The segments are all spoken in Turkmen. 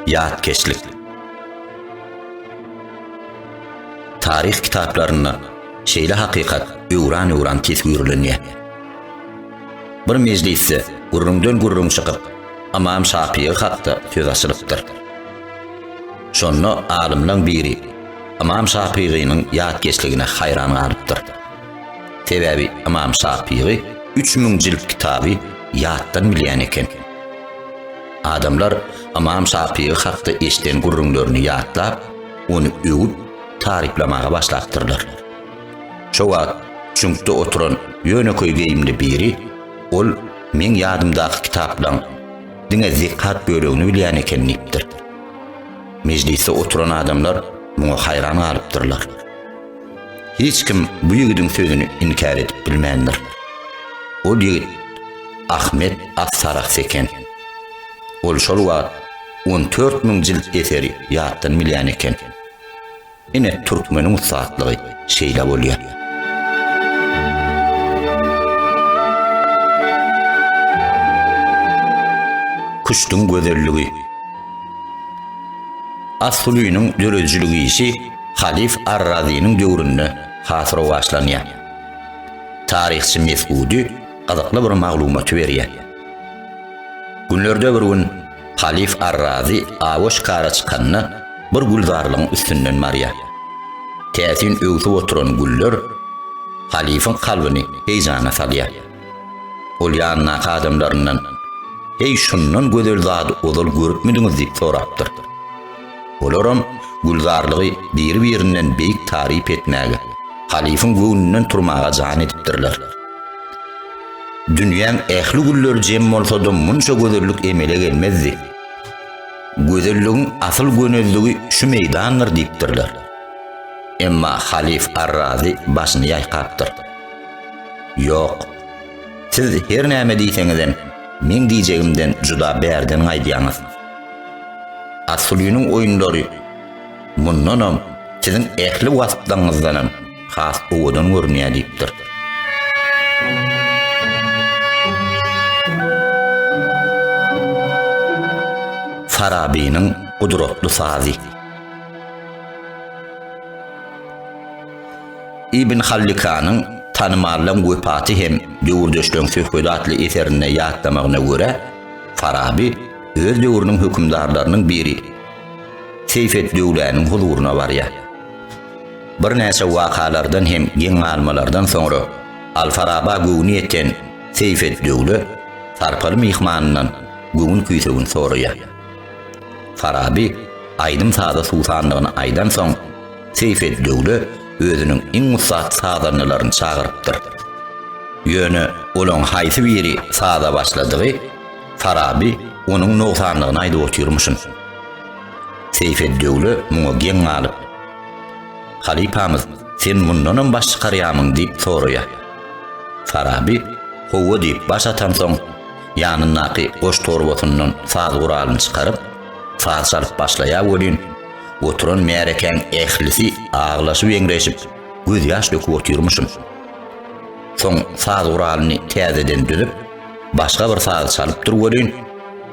Ýatkeşlik Taryh kitaplarynda şeýle hakykat öwran-öwran teswirlenýär. Bir mejlisde gürrüňden gürrüň çykyp, Amam Şapyýy hakda söz açylypdyr. Şonda alymlaň biri Amam Şapyýynyň ýatkeşligine haýran galypdyr. Sebäbi Ymam Şapygy üç müň jilt kitaby ýatdan bilýän eken. Adamlar Ymam Şapygy hakda eşden gürrüňlerini ýatlap, ony öwüp, taryplamaga başlapdyrlar. Şo wagt çüňkde oturan ýönekeý geýimli biri, Ol meň ýadymdaky kitaplaň diňe zekat bölegini bilýän eken diýipdir. Mejlisde oturan adamlar muňa haýran galypdyrlar. Hiç kim bu ýigidiň sözüni inkär edip bilmändir. Ol ýigit Ahmet As-Sarahs eken. Ol şol wagt on dört müň jilt eseri ýatdan bilýän eken. Ine, türkmeniň ussatlygy şeýle bolýar. Küştüň gözelligi. As-Sulynyň döredijilik işi Halyf ar-Razynyň döwründe has rowaçlanýar. Taryhçy Mesgudy gyzykly bir maglumaty berýär. Günlerde bir gün Halyf ar-Razy awa şikara çykanda bir gülzarlygyň üstünden barýar. Täsin öwsüp oturan güller halyfyň kalbyny heýjana salýar. Ol ýanyndaky adamlaryndan, Heý, şundan gözel zady ozal görüpmidiňiz diýip sorapdyr. Olaram Gülzarlygy biri-birinden beýik taryp etmäge, halyfyň göwnünden turmaga jan edipdirler. Dünýäň ähli gülleri jem bolsa-da munça gözellik emele gelmezdi. Gözelligiň asyl gönezligi şu meýdandyr diýipdirler. Emma halyf Arrazy başyny ýaýkapdyr. Ýok, siz her näme diýseňizem, meň diýjegimden juda bärden gaýdýaňyz. Asulynyň oýunlary mundanam siziň ähli wasplarňyzdanam has owadan görünýär diýipdir. Farabynyň gudratly sazy. Ibn Hallikanyň tanymallaň wepaty hem döwürdeşleň söhbedi atly eserinde ýatlamagyna görä, Faraby öz döwrüniň hökümdarlarynyň biri Seýfeddöwläniň huzuryna barýar. Birnäçe wakalardan hem geň galmalardan soňra Alfaraba göwni ýeten Seýfeddöwle sarpaly myhmanyndan göwün-küýsegin soraýar. Faraby aýdym-saza suwsandygyny aýdansoň, Seýfeddöwle özüniň iň ussat sazandalaryny çagyrypdyr. Ýöne olaň haýsy biri saza başladygy Faraby onuň nogsanlygyny aýdyp otyrmyşyn. Seýfeddöwle muňa geň galyp, Halypamyz, sen mundanam baş çykarýamyň diýip soraýar. Faraby Howwa diýip baş atansoň, ýanyndaky goş torbasyndan saz guralyny çykaryp, saz çalyp başlaýar welin, Oturan märekäň ählisi aglaşyp-eňreşip, gözýaş döküp otyrmyşyn. Soň saz guralyny täzeden düzüp, başga bir saz çalypdyr welin,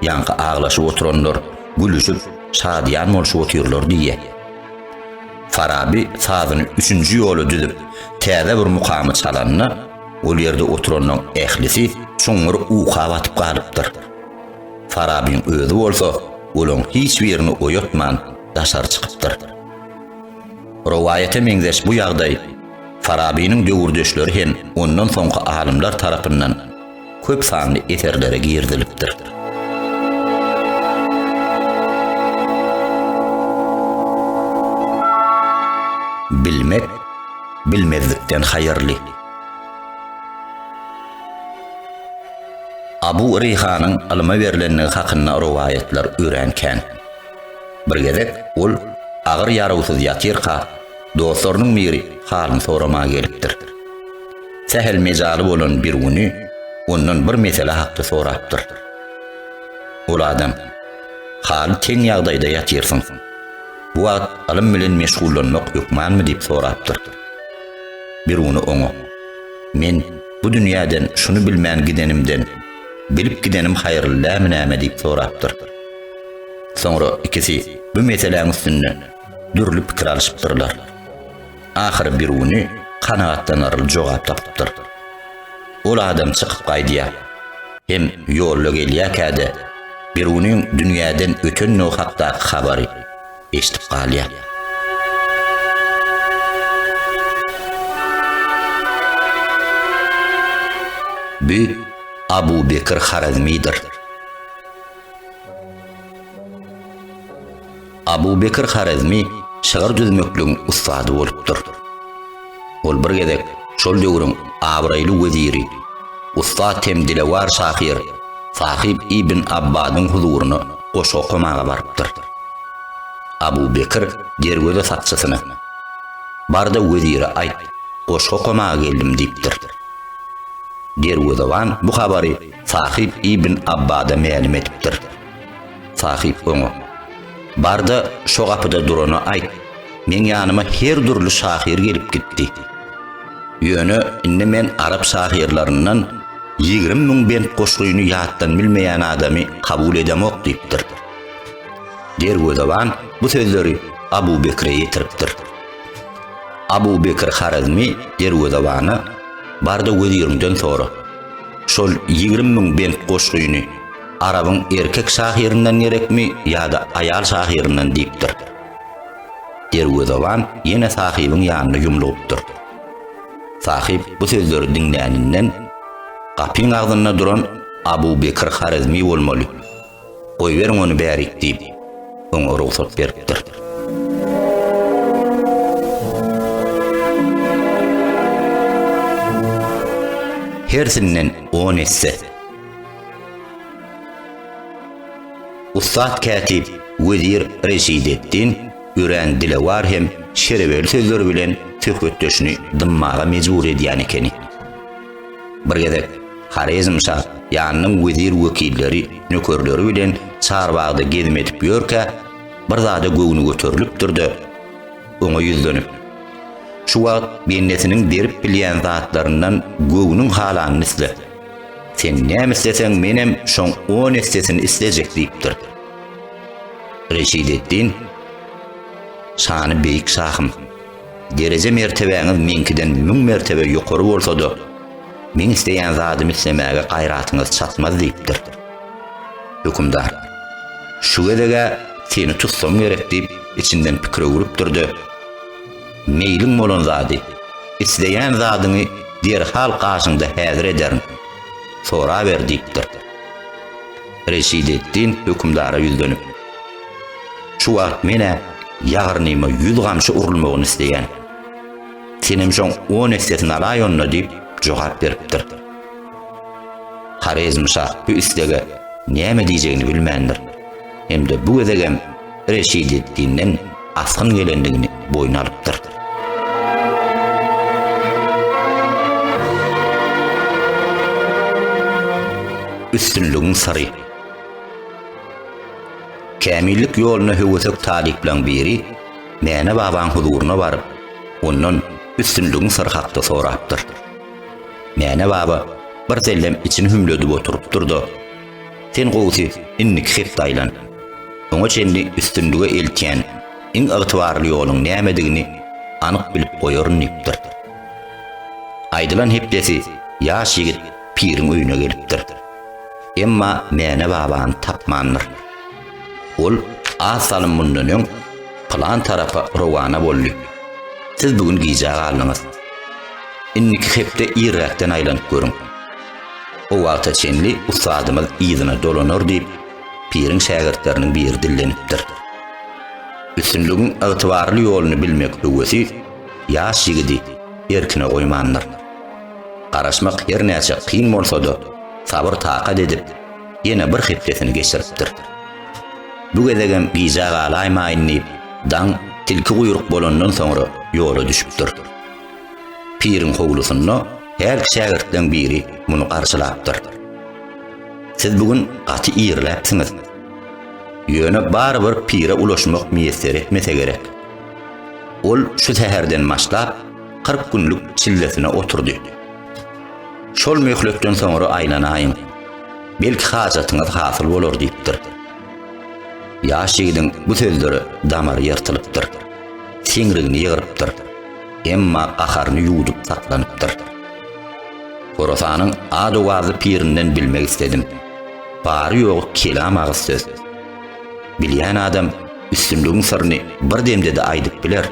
ýaňky aglaşyp oturanlar gülüşip, şadyýan bolşup otyrlar diýýä. Faraby sazyny üçünji ýola düzüp, täze bir mukamy çalanda, ol ýerde oturanlaň ählisi çuňňur uka batyp galypdyr. Farabyň özi bolsa olaň hiç birini oýatman daşary çykypdyr. Rowaýata meňzeş bu ýagdaý Farabynyň döwürdeşleri hem ondan soňky alymlar tarapyndan köp sanly eserlere girizilipdir. Bilmek bilmezlikden haýyrly. Abu Reýhanyň ylyma berlendigi hakynda rowaýatlar örän kän. Bir gezek ol agyr ýarawsyz ýatyrka, dostlarynyň biri halyny soramaga gelipdir. Sähel mejaly bolan bir güni ondan bir mesele hakda sorapdyr. Ol adam, Haly teň ýagdaýda ýatyrsyň. Bu wagt ylym bilen meşgullanmak hökmanmy diýip sorapdyr. Bir güni oňa. Men bu dünýäden şuny bilmän gidenimden, bilip gidenim haýyrlylämi näme diýip sorapdyr. Soňra ikisi bu meseläň üstünde dürli pikir alyşypdyrlar. Ahyry Biruny kanagatlanarly jogap tapypdyr. Ol adam çykyp gaýdýar. Hem ýolda gelýärkä-de Birunyň dünýäden ötenligi hakdaky habary. eşidip galýar. Bu Abu Bekir Harazmidir. Abu Bekir Harazmi şygyr düzmekligiň ussady bolupdyr. Ol bir gezek şol döwrüň abraýly weziri, ussat hem dilewar şahyr Sahyp ibn Abbadyň huzuryna goşgy okamaga barypdyr. Abu Bekir derweze sakçysyna, Bar-da wezire aýt, goşgy okamaga geldim diýipdir. Derwezeban bu habary Sahyp ibn Abbada mälim edipdir. Sahyp oňa, Bar-da, şo gapyda durana aýt, meň ýanyma her dürli şahyr gelip gitdi. Ýöne indi men arap şahyrlaryndan ýigrimi müň bent goşgyny ýatdan bilmeýän adamy kabul edemok diýipdir. Derwezeban bu sözleri Abu Bekre ýetiripdir. Abu Bekr Harezmi derwezebana, Bar-da weziriňden sora. Şol ýigrimi müň bent goşgyny Arabyň erkek şahyryndan gerekmi ýa-da aýal şahyryndan diýipdir. Derwezeban ýene Sahybyň ýanyna ýumlugypdyr. Sahyp bu sözleri diňläninden, Gapyň agzynda duran Abu Bekir Harezmi bolmaly. Goýberiň ony bärik diýip, oňa rugsat beripdir. Hersinden on esse. Ussat kätip wezir Reşideddin örän dilewar hem şerewerli sözler bilen söhbetdeşini dymmaga mejbur edýän ekeni. Bir gezek Horezmşa ýanynyň wezir wekilleri, nökerleri bilen çarbagda gezim edip ýörkä, bir zada göwni göterilipdir-de, oňa ýüzlenip, Şu wagt bendesiniň berip bilýän zatlaryndan göwnüň halanyny isle. Sen näme isleseň menem şoň on essesini islejek diýipdir. Reşideddin Şany beýik şahym, dereje mertebäňiz meňkiden müň mertebe ýokary bolsa-da, meň isleýän zadymy islemäge gaýratyňyz çatmaz diýipdir. Hökümdar Şu gezeg-ä seni tutsam gerek diýip, içinden pikir öwrüpdir-de, Meýliň bolan zady, isleýän zadyňy derhal gaşyňda häzir ederin. Soraber diýipdir. Reşideddin hökümdara ýüzlenip, Şu wagt men-ä ýagyrnyma ýüz gamçy urulmagyny isleýän. Senem şoň on essesini alaý onda diýip jogap beripdir. Horezmşa bu islege näme diýjegini bilmändir. Hem-de bu gezegem Reşidetdinden asgyn gelendigini boýun alypdyr. Üstünligiň syry Kämillik ýoluna höwesek talyplaň biri Mäne babaň huzuryna baryp, ondan üstünligiň syry hakda sorapdyr. Mäne baba bir sellem içini hümledip oturypdyr-da, Sen gowusy indiki hepde aýlan. Oňa çenli üstünlige eltýän iň ygtybarly ýoluň nämedigini anyk bilip goýaryn diýipdir. Aýdylan hepdesi ýaş ýigit piriň öýüne gelipdir. Emma Mäne babany tapmandyr. Ol az salym mundan öň pylan tarapa rowana boldy. Siz bu gün gijä galdyňyz. Indiki hepde irräkden aýlanyp görüň. O wagta çenli ussadymyz yzyna dolanar diýip, piriň şägirtleriniň biri dillenipdir. Üstünligiň ygtybarly ýoluny bilmek höwesi ýaş ýigidi erkine goýmandyr. Garaşmak her näçe kyn bolsa-da, sabyr-takat edip, ýene bir hepdesini geçiripdir. Bu gezegem gijä galaýmaýyn diýip, daň tilki guýruk bolandan soňra ýola düşüpdir. Piriň howlusynda her şägirtden biri muny garşylapdyr. Siz bu gün gaty irläpsiňiz. Ýöne barybir pire ulaşmak miýesser etmese gerek. Ol şu säherden başlap kyrk günlük çillesine oturdy. Şol möhletden soňra aýlanaýyň. Belki hajatyňyz hasyl bolar diýipdir. Ýaş ýigidiň bu sözleri damary ýyrtylypdyr. Siňrigini ýygrypdyr. emma gaharyny ýuwdup saklanypdyr. Horasanyň ad-owazly pirinden bilmek isledim. Bary-ýogy kelam agyz söz. Bilýän adam üstünligiň syryny bir demde-de aýdyp biler.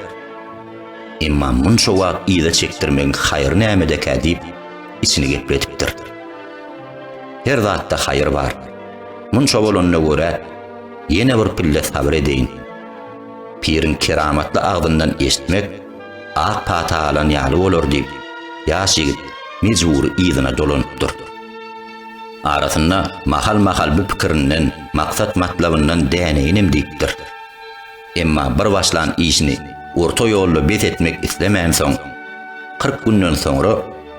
Emma munça wagt yza çekdirmegiň haýry nämedekä diýip, içini gepletipdir. Her zatda haýyr bar. Munça bolanyna görä, ýene bir pille sabyr edeýin. Piriň keramatly agzyndan eşitmek ak pata alan ýaly bolar diýip, ýaş ýigit mejbury yzyna dolanypdyr. Arasynda mahal-mahal bu pikirinden, maksat-matlabyndan däneýinem diýipdir. Emma bir başlan işini orta ýolda bes etmek islemänsoň, kyrk günden soňra,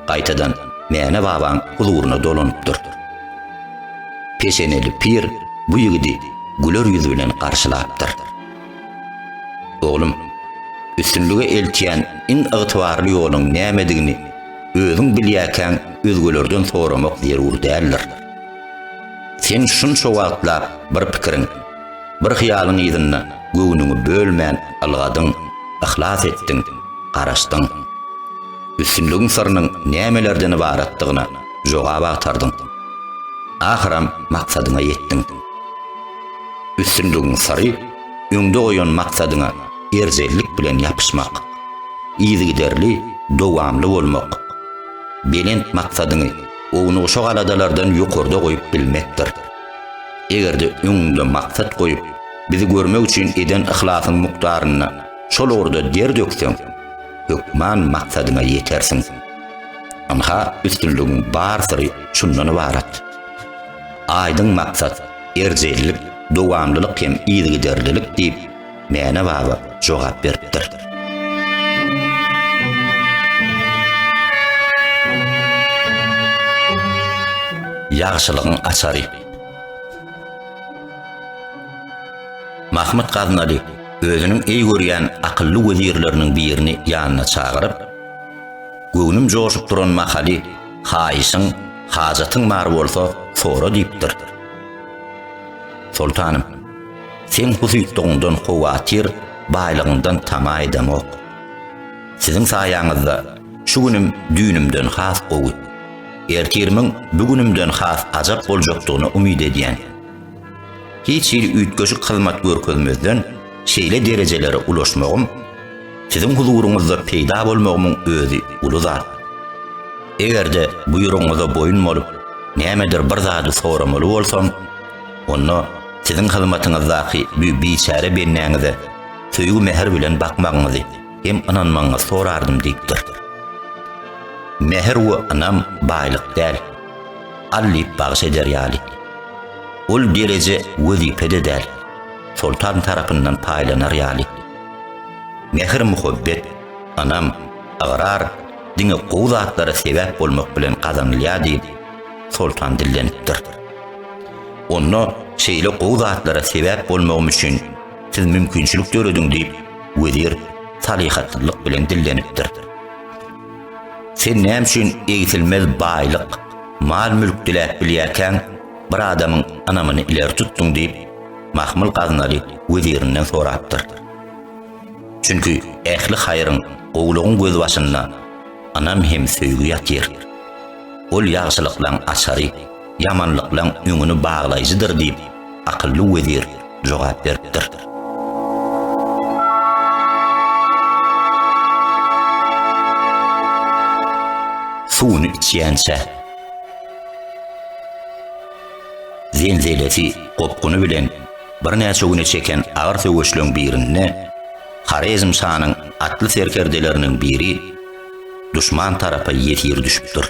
gaýtadan Mäne babaň huzuryna dolanypdyr. Peşeneli pir bu ýigidi güler ýüz bilen garşylapdyr. Oglum, üstünlige eltýän iň ygtybarly ýoluň nämedigini özüň bilýärkäň özgelerden soramak zerur däldir. Sen şunça wagtlap bir pikiriň, Bir hyýalyň yzynda göwnüňi bölmän ylgadyň, yhlas etdiň, garaşdyň. Üstünligiň syrynyň nämelerden ybaratdygyna jogap agtardyň. Ahyram maksadyňa ýetdiň. Üstünligiň syry, öňde goýan maksadyňa erjellik bilen ýapyşmak, yzygiderli, dowamly bolmak, belent maksadyňy ownugşa galadalardan ýokarda goýup bilmekdir. Eger-de öňüňde maksat goýup, bizi görmek üçin eden yhlasyň mukdaryna şol ugurda der dökseň, hökman maksadyňa ýetersiň. Ynha, üstünligiň bar syry şundan ybarat. Aýdyň maksat, erjellik, dowamlylyk hem yzygiderlilik diýip, Mäne baba jogap beripdir. Ýagşylygyň açary. Mahmyt Gaznaly özüniň eý görýän akylly wezirleriniň birini ýanyna çagyryp, Göwnüm joşup duran mahaly, haýyşyň, hajatyň bar bolsa, sora diýipdir. Soltanym, Seň husytlygyňdan howatyr, baýlygyňdan tama edemok. Siziň saýaňyzda şu günüm düýnümden has gowy, ertirimiň bu günümden has ajap boljakdygyna umyt edýän. Hiç hili üýtgeşik hyzmat görkezmezden şeýle derejelere ulaşmagym, siziň huzuryňyzda peýda bolmagymyň özi uly zat. Eger-de buýrugyňyza boýun bolup, nämedir bir zady soramaly bolsam, Onda siziň hyzmatyňyzdaky bu biçäre bendäňize söýgi-mähir bilen bakmagyňyzy hem ynanmagyňyzy sorardym diýipdir. Mähir we ynam baýlyk däl, Allyp bagyş eder ýaly. Ol dereje wezipe-de däl, Soltan tarapyndan paýlanar ýaly. Mähir-muhabbet, ynam, ygrar diňe gowy zatlara sebäp bolmak bilen gazanylýar diýip, Soltan dillenipdir. Onda şeýle gowy zatlara sebäp bolmagym üçin siz mümkinçilik dörediň diýip, wezir salyhatlylyk bilen dillenipdir. Sen näme üçin egsilmez baýlyk, mal-mülk diläp bilýärkäň, bir adamyň ynamyny ileri tutduň diýip, Mahmyl Gaznaly wezirinden sorapdyr. Çünki ähli haýryň, gowulygyň gözbaşynda ynam hem söýgi ýatyr. Ol ýagşylyklaň açary, ýamanlyklaň öňüni baglaýjydyr diýip, akylly wezir jogap beripdir. Suwuny içýänçä. Zenzelesi, gopguny bilen birnäçe güne çeken agyr söweşleň birinde Horezmşanyň atly serkerdeleriniň biri duşman tarapa ýesir düşüpdir.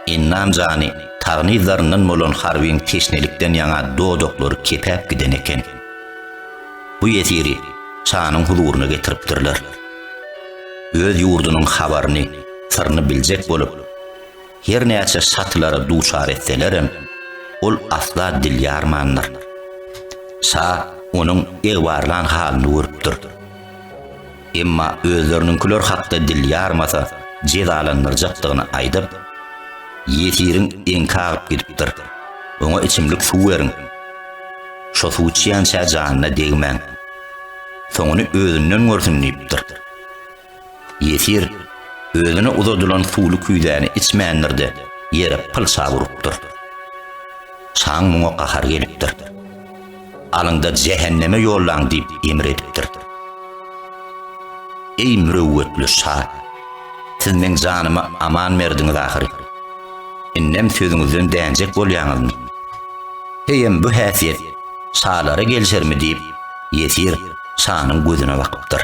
Ennan jany tagnyzlaryndan bolan harbyň teşnelikden ýaňa dodaklary kepäp giden eken. Bu ýesiri şanyň huzuryna getiripdirler. Öz ýurdunyň habaryny, syryny biljek bolup, her näçe şatylara duçar etselerem, ol asla dil ýarmandyr. Şa onuň egbarlan halyny görüpdir. emma özleriniňkiler hakda dil ýarmasa jezalandyrjakdygyny aýdyp, ýesiriň eňki agyp gidipdir, oňa içimlik suw beriň, şo suw içýänçä janyna degmäň, soňuny özünden görsün diýipdir. Ýesir özüne uzadylan suwly küýzäni içmändir-de, ýere pylçap urupdyr. Şaň muňa gahary gelipdir. Alyň-da jähenneme ýollaň diýip emr edipdir. Eý mürewwetli şa! Siz meň janymy aman berdiňiz ahyry. Indem sözüňizden dänjek bolýaňyzmy? Heýem bu häsiýet şalara gelişermi diýip, ýesir şanyň gözüne bakypdyr.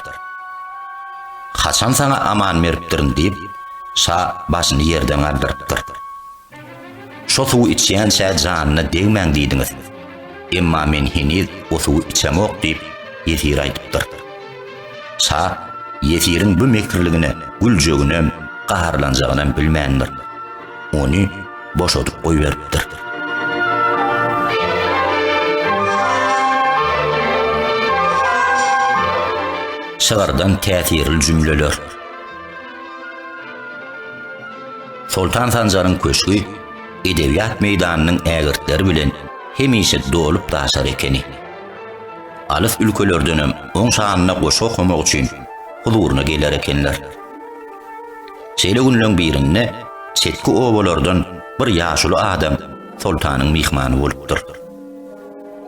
Haçan saňa aman beripdirin diýip, şa başyny ýerden galdyrypdyr. Şo suwy içýänçä janyna degmäň diýdiňiz. Emma men heniz o suwy içemok diýip, ýesir aýdypdyr. Şa ýesiriň bu mekirligine güljeginem, gaharlanjagynam bilmändir. Ony boşadyp goýberipdir. Şygyrdan täsirli jümleler. Soltan Sanjaryň köşgi edebiýat meýdanynyň ägirtleri bilen hemişe dolup-daşar ekeni. Alys ülkelerdenem oň şanyna goşgy okamak üçin huzuryna geler ekenler. Şeýle günleň birinde çetki obalardan bir ýaşuly adam soltanyň myhmany bolupdyr.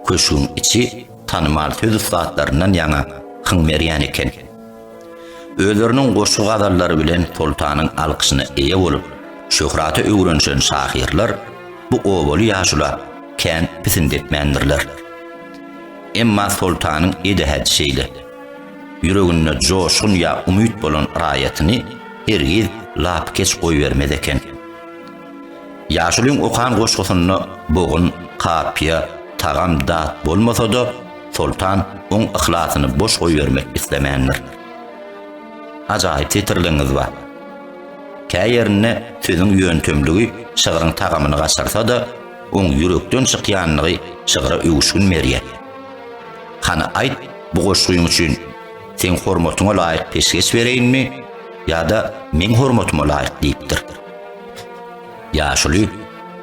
Köşgüň içi tanymal söz ussatlaryndan ýaňa hyň berýän eken. Özleriniň goşgy-gazallary bilen soltanyň alkyşyna eýe bolup, şöhrata öwrenişen şahyrlar bu obaly ýaşula kän pisindi etmändirler. Emma soltanyň edehedi şeýle. Ýüreginde joşgun ýa umyt bolan raýatyny hergiz lapykeç goýbermez eken. Ýaşulyň okan goşgusynda bogun, kapyýa, tagam, dat bolmasa-da, Soltan oň yhlasyny boş goýbermek islemändir. Ajaýyp setirligiňiz bar. Kä ýerinde sözüň ýöntemligi şygryň tagamyny gaçyrsa-da, oň ýürekden çykýanlygy şygra öwüşgin berýär. Hany aýt, bu goşgyň üçin Seň hormatyňa laýyk peşgeş bereýinmi ýa-da Meň hormatyma laýyk diýipdir. Ýaşuly,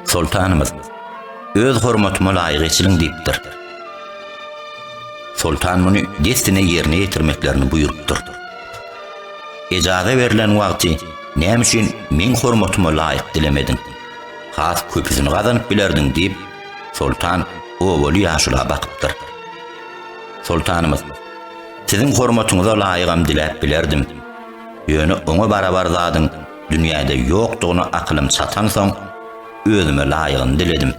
Soltanymyz, öz hormatyma laýyk eçiliň diýipdir. Soltan muny dessine ýerine ýetirmeklerini buýrupdyr. Ejaza berlen wagty näme üçin meň hormatyma laýyk dilemediň? Has köpüsini gazanyp bilerdiň diýip, Soltan obaly ýaşula bakypdyr. Soltanymyz, Siziň hormatyňyza laýygam diläp bilerdim. Ýöne oňa barabar zadyň Dünýäde ýokdugyna akylym çatansoň, özüme laýygyny diledim.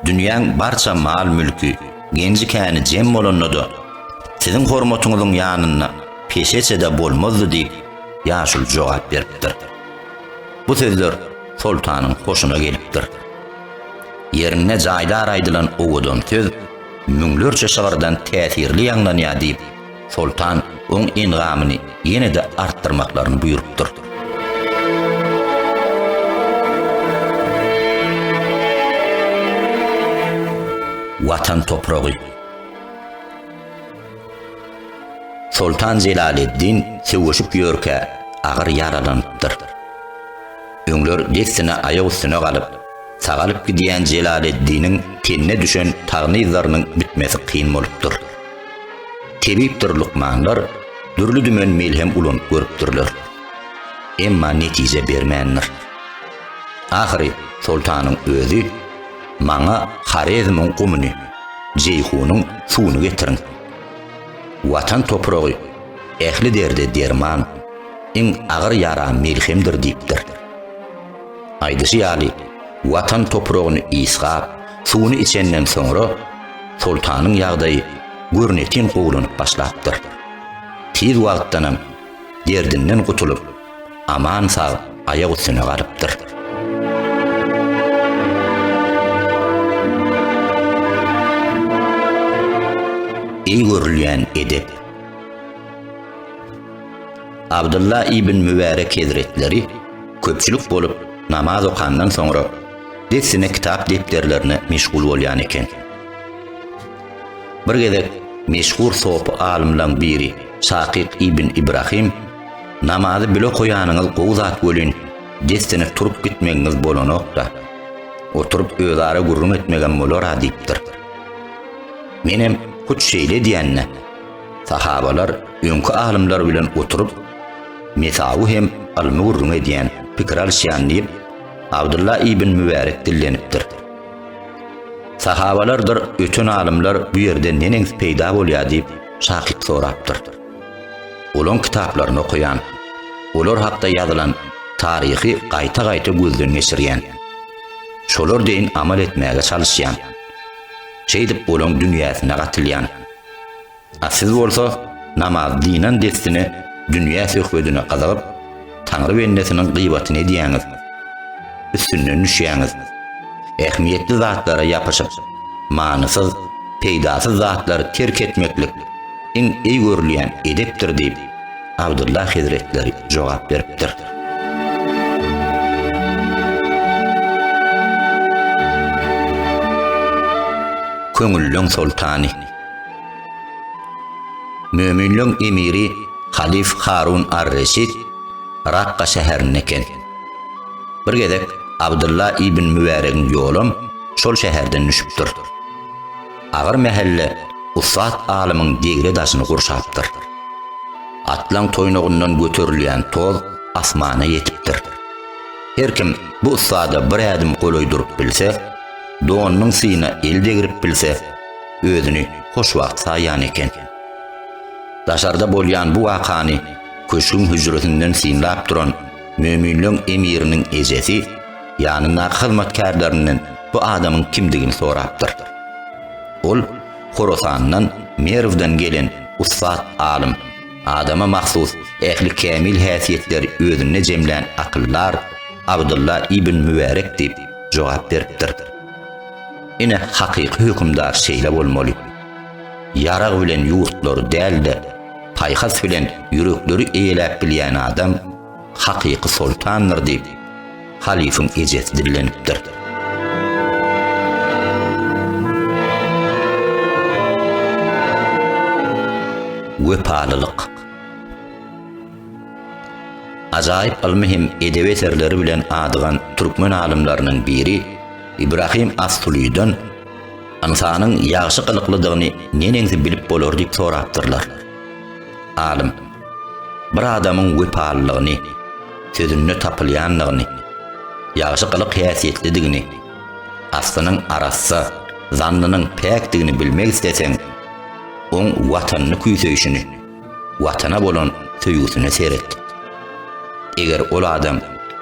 Dünýäň barça mal-mülki, genji-käni jem bolanda-da, siziň hormatyňyzyň ýanynda peşeçe-de bolmazdy diýip, ýaşuly jogap beripdir. Bu sözler soltanyň hoşuna gelipdir. Ýerinde jaýdar aýdylan owadan söz müňlerçe şygyrdan täsirli ýaňlanýar diýip, Soltan oň engamyny ýene-de artdyrmaklaryny buýrupdyr. Watan topragy Soltan Jelaleddin söweşip ýörkä agyr ýaralanypdyr. Öňler dessine aýak üstüne galyp, sagalyp gidýän Jelaleddiniň tenine düşen tagynyzlarynyň bitmesi kyn bolupdyr. Tebipdir lukmanlar dürli-dümen melhem ulanyp görüpdirler. Emma netije bermändir. Ahyry soltanyň özi Maňa Horezmiň gumuny, Jeýhunyň suwuny getiriň. Watan topragy ähli derde derman, iň agyr ýara melhemdir diýipdir. Aýdyşy ýaly, Watan topragyny ysgap, suwuny içenden soňra, Soltanyň ýagdaýy görnetin gowulanyp başlapdyr. Tiz wagtdanam derdinden gutulyp, aman-sag aýak üstüne galypdyr. Eý görülýän edep! Abdylla ibn Mübärek hezretleri köpçülik bolup namaz okandan soňra dessine kitap depderlerine meşgul bolýan eken. Bir gezek meşhur sopy alymlaň biri Şakyk ibn Ibrahim namazy bile koýanyňyz gowy zat welin dessine turup gitmegiňiz bolanokda. Oturyp özara gürrüň etmegem bolara diýipdir. Menem hut şeýle diýende sahabalar öňki alymlar bilen oturyp mesawy hem ylmy gürrüň edýän, pikir alyşýan diýip Abdylla ibn Mübärek dillenipdir. Sahabalardyr öten alymlar bu ýerden neneňsi peýda bolýar diýip şakyk sorapdyr. Olaň kitaplaryny okaýan, olar hakda ýazylan taryhy gaýta-gaýta gözden geçirýän. Şolar deýin amal etmäge çalyşýan. Şeýdip olaň dünýäsine gatylýan. A siz bolsa namaz dynan dessine dünýä söhbedine gyzygyp, Taňry bendesiniň gybatyny edýäňiz, üstünden düşýäňiz. Ähmiýetli zatlara ýapyşyp, manysyz, peýdasyz zatlary terk etmeklik iň eý görülýän edepdir diýip, Abdylla hezretleri jogap beripdir. Köňülleň soltany, Möminleň emiri halyf Harun ar-Reşid Rakga şäherinde eken. Bir gezek Abdylla ibn Mübäregiň ýolam şol şäherden düşüpdir. Agyr mähelle ussat alymyň degre daşyny gurşapdyr. Atlaň toýnagyndan göterilýän toz asmana ýetipdir. Her kim bu ussada bir ädim golaý durup bilse, donunyň syýyna el degrip bilse, özüni hoşwagt saýýan eken. Daşarda bolýan bu wakany köşgüň hüjresinden synlap duran möminleň emiriniň ejesi ýanyndaky hyzmatkärlerinden bu adamyň kimdigini sorapdyr. Ol Horasandan, Merwden gelen ussat alym, adama mahsus ähli kämil häsiýetleri özünde jemlän akyldar Abdylla ibn Mübärek diýip jogap beripdir. Ine, hakyky hökümdar şeýle bolmaly. Ýarag bilen ýurtlary däl-de, paýhas bilen ýürekleri eýeläp bilýän adam hakyky soltandyr diýip, halyfyň ejesi dillenipdir. Wepalylyk. Ajaýyp ylmy hem edebi eserleri bilen adygan türkmen alymlarynyň biri, Ibrahim as-Sulydan, Ynsanyň ýagşy gylyklydygyny neneňsi bilip bolar diýip sorapdyrlar. Alym, Bir adamyň wepalylygyny, sözünde tapylýandygyny, ýagşy gylyk-häsiýetlidigini, aslynyň arassa, zannynyň päkdigini bilmek isleseň, oň watanyny küýseýşini, Watana bolan söýgüsine seret. Eger ol adam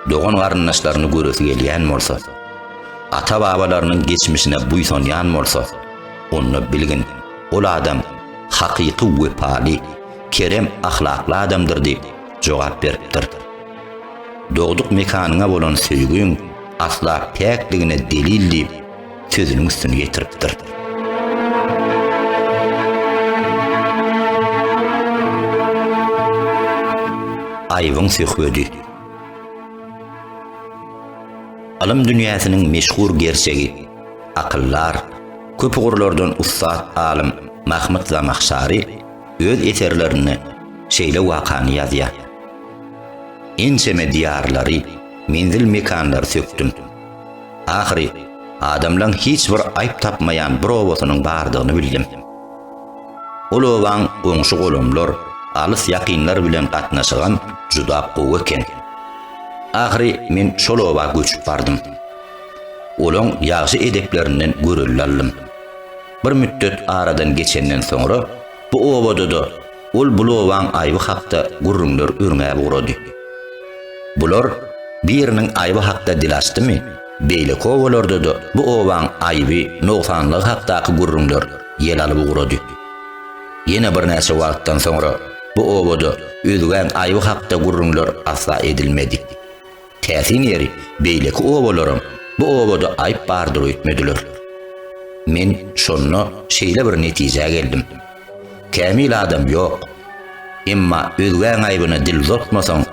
dogan-garyndaşlaryny göresi gelýän bolsa, ata-babalarynyň geçmişine buýsanýan bolsa, onda bilgin, ol adam hakyky wepaly, kerem ahlakly adamdyr diýip jogap beripdir. Dogduk mekanyňa bolan söýgiň asla päkdigine delil diýip, sözüniň üstüni ýetiripdir. Aýybyň söhbedi. Alym dünýäsiniň meşhur gerçegi, akyldar, köp ugurlardan ussat alym Mahmud Zamahşary öz eserlerinde şeýle wakany ýazýar. Ençeme diýarlary, menzil-mekanlary sökdüm. Ahyry, adamlaň hiç bir aýp tapmaýan bir obasynyň bardygyny bildim. Ol obaň goňşy-golamlar, alys-ýakynlar bilen gatnaşygam juda gowy eken. Ahyry men şol oba göçüp bardym. Olaň ýagşy edeplerinden görelde aldym. Bir mütdet aradan geçenden soňra bu obada-da Ol bu lobaň aýby hakda gürrüňler örňäp ugrady. Bular biriniň aýby hakda dil açdymy, beýleki obalarda-da bu obaň aýby, nogsanlygy hakdaky gürrüňler ýel alyp ugrady. Ýene birnäçe wagtdan soňra bu obada Özgäň aýby hakda gürrüňler asla edilmedi. Täsin ýeri, beýleki obalaram bu obada aýyp bardyr öýtmediler. Men şonda şeýle bir netijä geldim. Kämil adam ýok. Emma özgäň aýbyna dil uzatmasaň,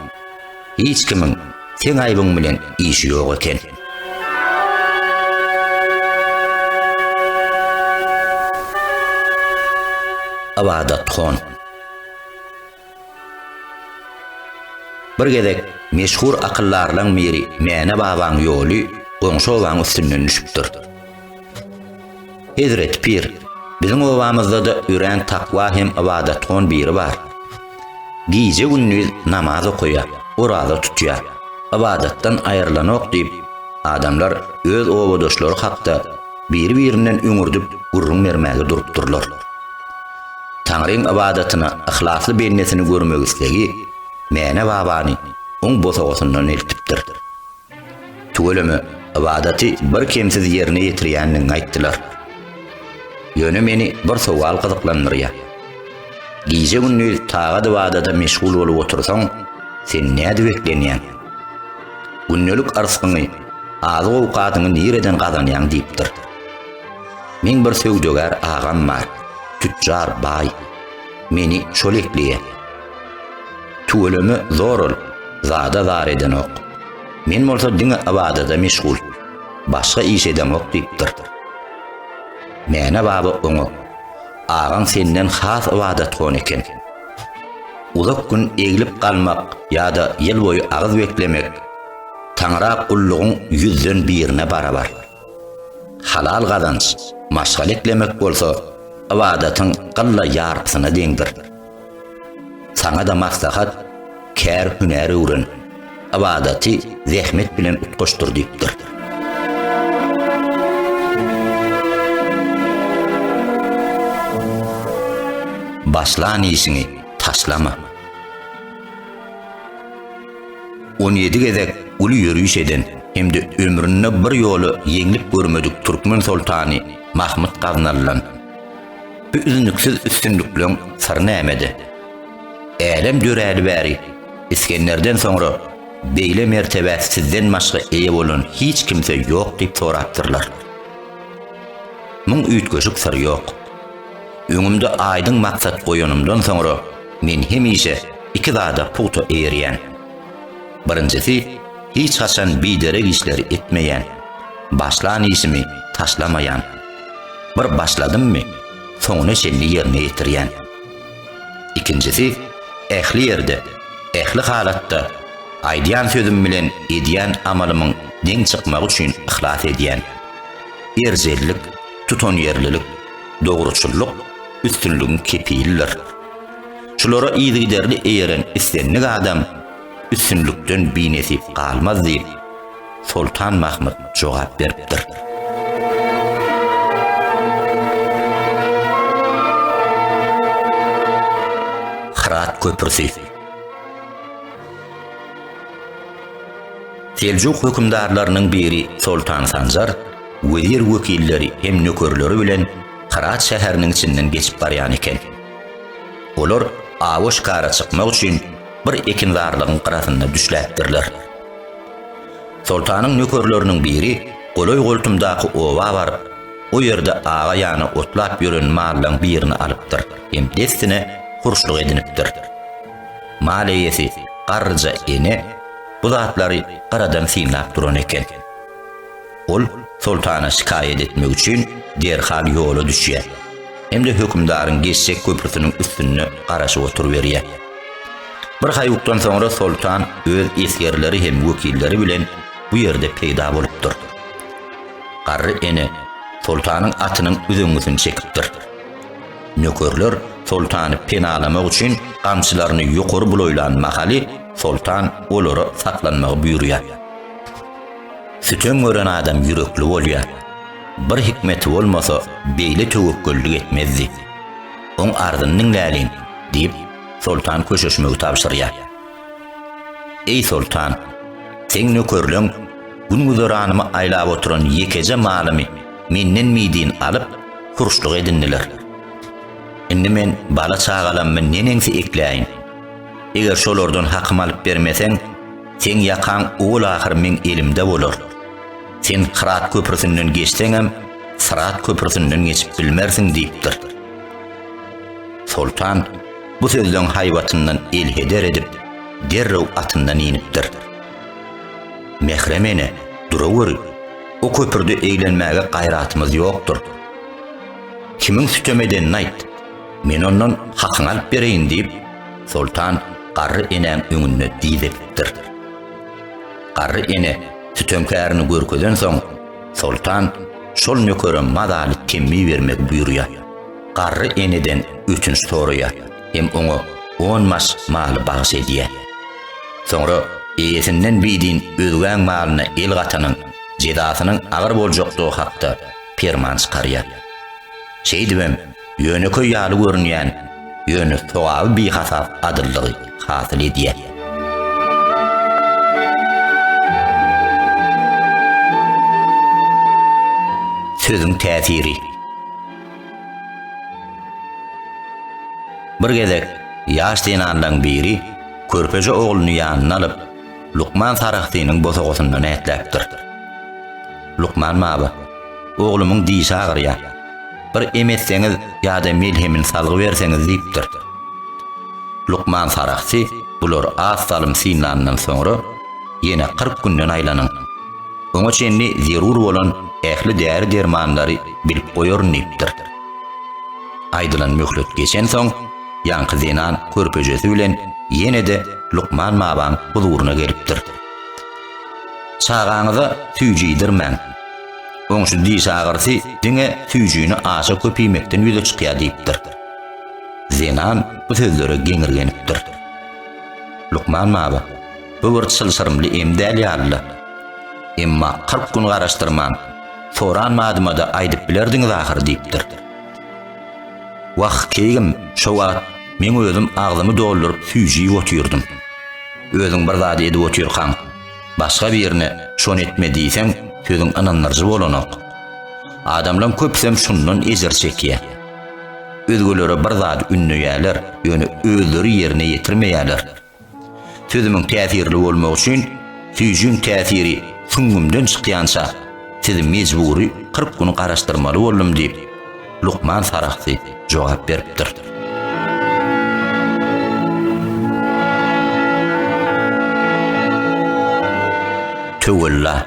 hiç kimiň seň aýbyň bilen işi ýok eken. Ybadathan. Bir gezek meşhur akyldarlaň biri Mäne babaň ýoly goňşy obaň üstünden düşüpdir. Hezreti pir, biziň obamyzda-da örän takwa hem ybadatgon biri bar. Gije-gündiz namaz okaýa, oraza tutýa, ybadatdan aýrylanok diýip, adamlar öz obadaşlary hakda biri-birinden üňürdip gürrüň bermäge durupdyrlar. Taňryň ybadatyna yhlasly bendesini görmek islegi Mäne babany oň bosagasyndan eltipdir. Tüweleme ybadaty bir kemsiz ýerine ýetirýändigiňi aýtdylar. Ýöne meni bir sowal gyzyklandyrýar. Gije-gündiz tagat-ybadada meşgul bolup otursaň, sen nädip eklenýäň? Gündelik yrsgyňy, azyk-owkadyňy nireden gazanýaň diýipdir. Meň bir söwdagär agam bar. Tütjar baý. Meni şol ekleýä. Tüweleme zor ol, zada zar edenok. Men bolsa diňe ybadada meşgul. Başga iş edemok diýipdir. Mäne baba oňa, Agaň senden has ybadatgon eken. Uzak gün eglip galmak ýa-da ýyl boýy agyz beklemek Taňra gullugyň ýüzden birine barabar. Halal gazanç maşgala eklemek bolsa ybadatyň gylla ýarpysyna deňdir. Saňa-da maslahat, kär-hünär öwren, ybadaty zähmet bilen utgaşdyr diýipdir. Başlan işiňi taşlama. On ýedi gezek uly ýöriş eden hem-de ömründe bir ýola ýeňlik görmedik türkmen soltany Mahmyt Gaznalydan bu üznüksiz üstünlikleň syry nämede? Älem döräli bäri Isgenderden soňra beýle mertebä sizden başga eýe bolan hiç kimse ýok diýip sorapdyrlar. Muň üýtgeşik syr ýok. Öňümde aýdyň maksat goýanymdan soňra, Men hemişe iki zada pugta eýerýän. Birinjisi, hiç haçan biderek işleri etmeýän, başlan işimi taşlamaýan. Bir başladymmy, soňuna çenli ýerine ýetirýän. Ikinjisi, ähli ýerde, ähli halatda aýdýan sözüm bilen edýän amalymyň deň çykmagy üçin yhlas edýän. Erjellik, tutanýerlilik. dogruçyllyk üstünligiň kepilidir. Şulara yzygiderli eýeren islendik adam üstünlikden binesip galmaz diýip, Soltan Mahmyt jogap beripdir. Hyrat köprüsi Seljuk hökümdarlarynyň biri Soltan Sanjar wezir wekilleri hem nökerleri bilen Hyrat şäheriniň içinden geçip barýan eken. Olar awa şikara çykmak üçin bir ekinzarlygyň gyrasynda düşläpdirler. Soltanyň nökerleriniň biri golaý-goltumdaky oba baryp, o ýerde aga ýana otlap ýören mallaň birini alypdyr hem dessine hurşluk edinipdir. Mal eýesi garryja ene bu zatlary gyradan synlap duran eken. Ol soltana şikaýat etmek üçin derhal ýola düşýär hem-de hökümdaryň geçjek köprüsiniň üstünde garaşyp oturyberýär. Bir haýukdan soňra soltan öz esgerleri hem wekilleri bilen bu ýerde peýda bolupdyr. Garry ene soltanyň atynyň üzeňňisini çekipdir. Nökerler soltany penalamak üçin gamçylaryny ýokary bulaýlan mahaly soltan olara saklanmagy buýurýar. Sütem gören adam ýürekli bolýar. Bir hikmeti bolmasa, beýle töwekgellik etmezdi. Oň arzyny diňläliň, diýip, soltan köşeşmegi tabşyrýar. Eý soltan, seň nökerleň gün-güzeranymy aýlap oturan ýekeje malymy menden mydyn alyp, hurşluk edindiler. Indi men bala-çagalammy neneňsi ekläýin? Eger şolardan hakym alyp bermeseň, Seň ýakaň owal ahyr meň elimde bolar. Sen Kyrat köprüsinden geçseňem, Syrat köprüsinden geçip bilmersiň diýipdir. Soltan bu sözleň haýbatyndan elheder edip, derrew atyndan inipdir. Mährem ene, duraweri, o köprüde eglenmäge gaýratymyz ýokdur. Kimiň sütem edenini aýt, men ondan hakyňy alyp bereýin diýip, Soltan garry enäň öňünde diz edipdir. Garry ene sütemkärini görkezen soň, soltan şol nökere mazaly temmi bermegi buýurýar. Garry eneden ötünç soraýar hem oňa on maş maly bagyş edýär. Soňra eýesinden bidin özgäň malyna el gatanyň jezasynyň agyr boljakdygy hakda perman çykarýar. Şeýdibem, Ýönekeý ýaly görünýän, ýöne sogaby bihasap adyllygy hasyl edýär. Sözüň täsiri. Bir gezek ýaş zenanlaryň biri körpeje ogluny ýanyna alyp, Lukman Sarahsynyň bosagasynda nätläpdir. Lukman baba, Oglumyň dişi agyrýar. Bir em etseňiz ýa-da melhemini salgyberseňiz diýipdir. Lukman Sarahsy bulary az salym synlandan soňra, ýene kyrk günden aýlanyň. Oňa çenli zerur bolan ähli däri-dermanlary bilip goýaryn diýipdir. Aýdylan möhlet geçensoň, Ýaňky zenan körpejesi bilen ýene-de lukman babaň huzuryna gelipdir. Çagaňyza süýji iýdirmäň. Oň şu diş agyrysy diňe süýjini aşa köp iýmekden ýüze çykýar diýipdir. Zenan bu sözlere geňirgenipdir. Lukman baba, Bu bir çylşyrymly em däl ýaly-la. Emma kyrk gün garaşdyrman, soran badyma-da aýdyp bilerdiňiz ahyry diýipdir. Wah, keýgim, şo wagt meň özüm agzymy dolduryp süýji iýip otyrdym. Özüň bir zady edip otyrkaň, başga birine şony etme diýseň, sözüň ynandyryjy bolanok. Adamlaň köpüsem şundan ejir çekýä. Özgelere bir zady ündeýäler, ýöne özleri ýerine ýetirmeýäler. Süzümiň täsirli bolmagy üçin süýjüň täsiri süňňümden çykýança sizi mejbury kyrk gün garaşdyrmaly boldum diýip, lukman sarahsy jogap beripdir. Töwella.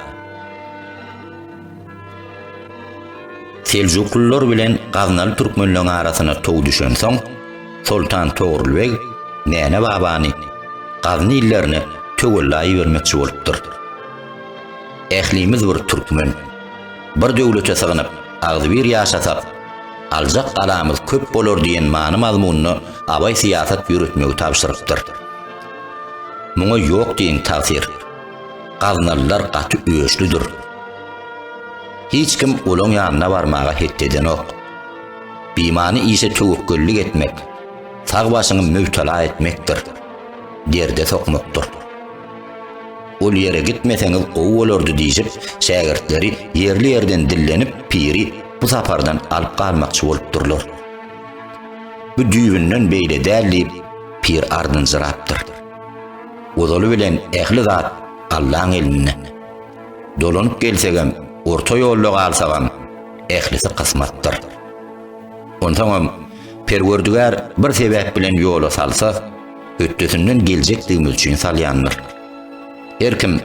Seljuklylar bilen gaznaly türkmenleň arasyna tow düşensoň, Soltan Togrul beg Näne babany Gazny illerine töwella ibermekçi bolupdyr. Ählimiz bir türkmen. Bir döwlete sygynyp, agzybir ýaşasak, aljak galamyz köp bolar diýen many-mazmunda abaý syýasat ýöretmegi tabşyrypdyr. Muňa ýok diýiň tagsyr. Gaznalylar gaty öçlüdir. Hiç kim olaň ýanyna barmaga het edenok. Bimany işe töwekgellik etmek, sag başyňy mübtela etmekdir, derde sokmakdyr. Ol ýere gitmeseňiz gowy bolardy diýşip, şägirtleri ýerli-ýerden dillenip, piri bu sapardan alyp galmakçy bolupdyrlar. Bu düýbünden beýle däl diýip, pir ardynjyrapdyr. Ozaly bilen ähli zat Allaň elinde. Dolanyp gelsegem, orta ýolda galsagam, ählisi kysmatdyr. Onsoňam, Perwerdigär bir sebäp bilen ýola salsa, hötdesinden geljekdigimiz üçin salýandyr. Her kim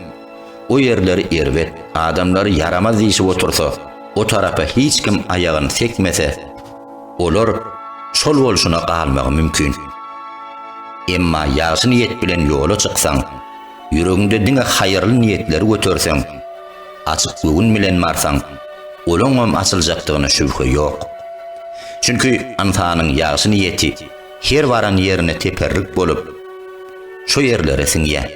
o ýerleri erbet, adamlary ýaramaz diýşip otursa, o tarapa hiç kim aýagyny sekmese, olar şol bolşuna galmagy mümkin. Emma ýagşy niýet bilen ýola çyksaň, Ýüregiňde diňe haýyrly niýetleri göterseň, açyk göwün bilen barsaň, olaňam açyljakdygyna şübhe ýok. Çünki ynsanyň ýagşy niýeti her baran ýerine teperrik bolup, şo ýerlere siňýär.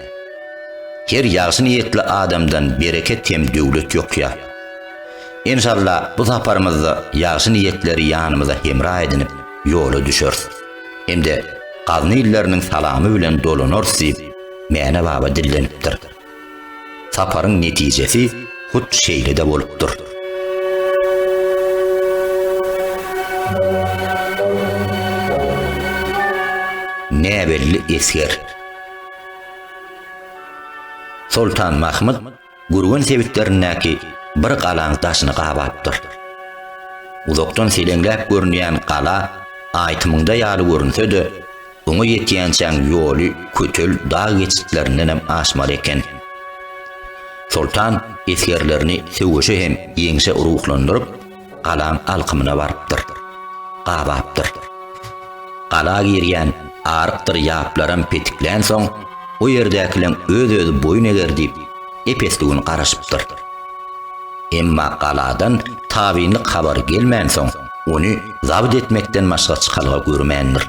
Her ýagşy niýetli adamdan bereket hem döwlet ýokýar. Enşalla bu saparymyzda ýagşy niýetleri ýanymyza hemra edinip, ýola düşeris. Hem-de gazny illeriniň salamy bilen dolanarys diýip, Mäne baba dillenipdir. Saparyň netijesi hut şeýle-de bolupdyr. Näbelli esger. Soltan Mahmyt Gürgen sebitlerindäki bir galaň daşyny gabapdyr. Uzakdan seleňläp görünýän gala aýtymyňda ýaly görünse-de, oňa ýetýänçäň ýoly kötel dag geçitlerindem aşmaly eken. Soltan esgerlerini söweşe hem ýeňşe ruhlandyryp, galaň alkymyna barypdyr. Gabapdyr. Gala girýän arykdyr ýaplaram petiklänsoň, o ýerdäkileň öz-özi boýun eger diýip, ep-esli gün garaşypdyr. Emma galadan tabynlyk habary gelmänsoň, ony zabt etmekden başga çykalga görmändir.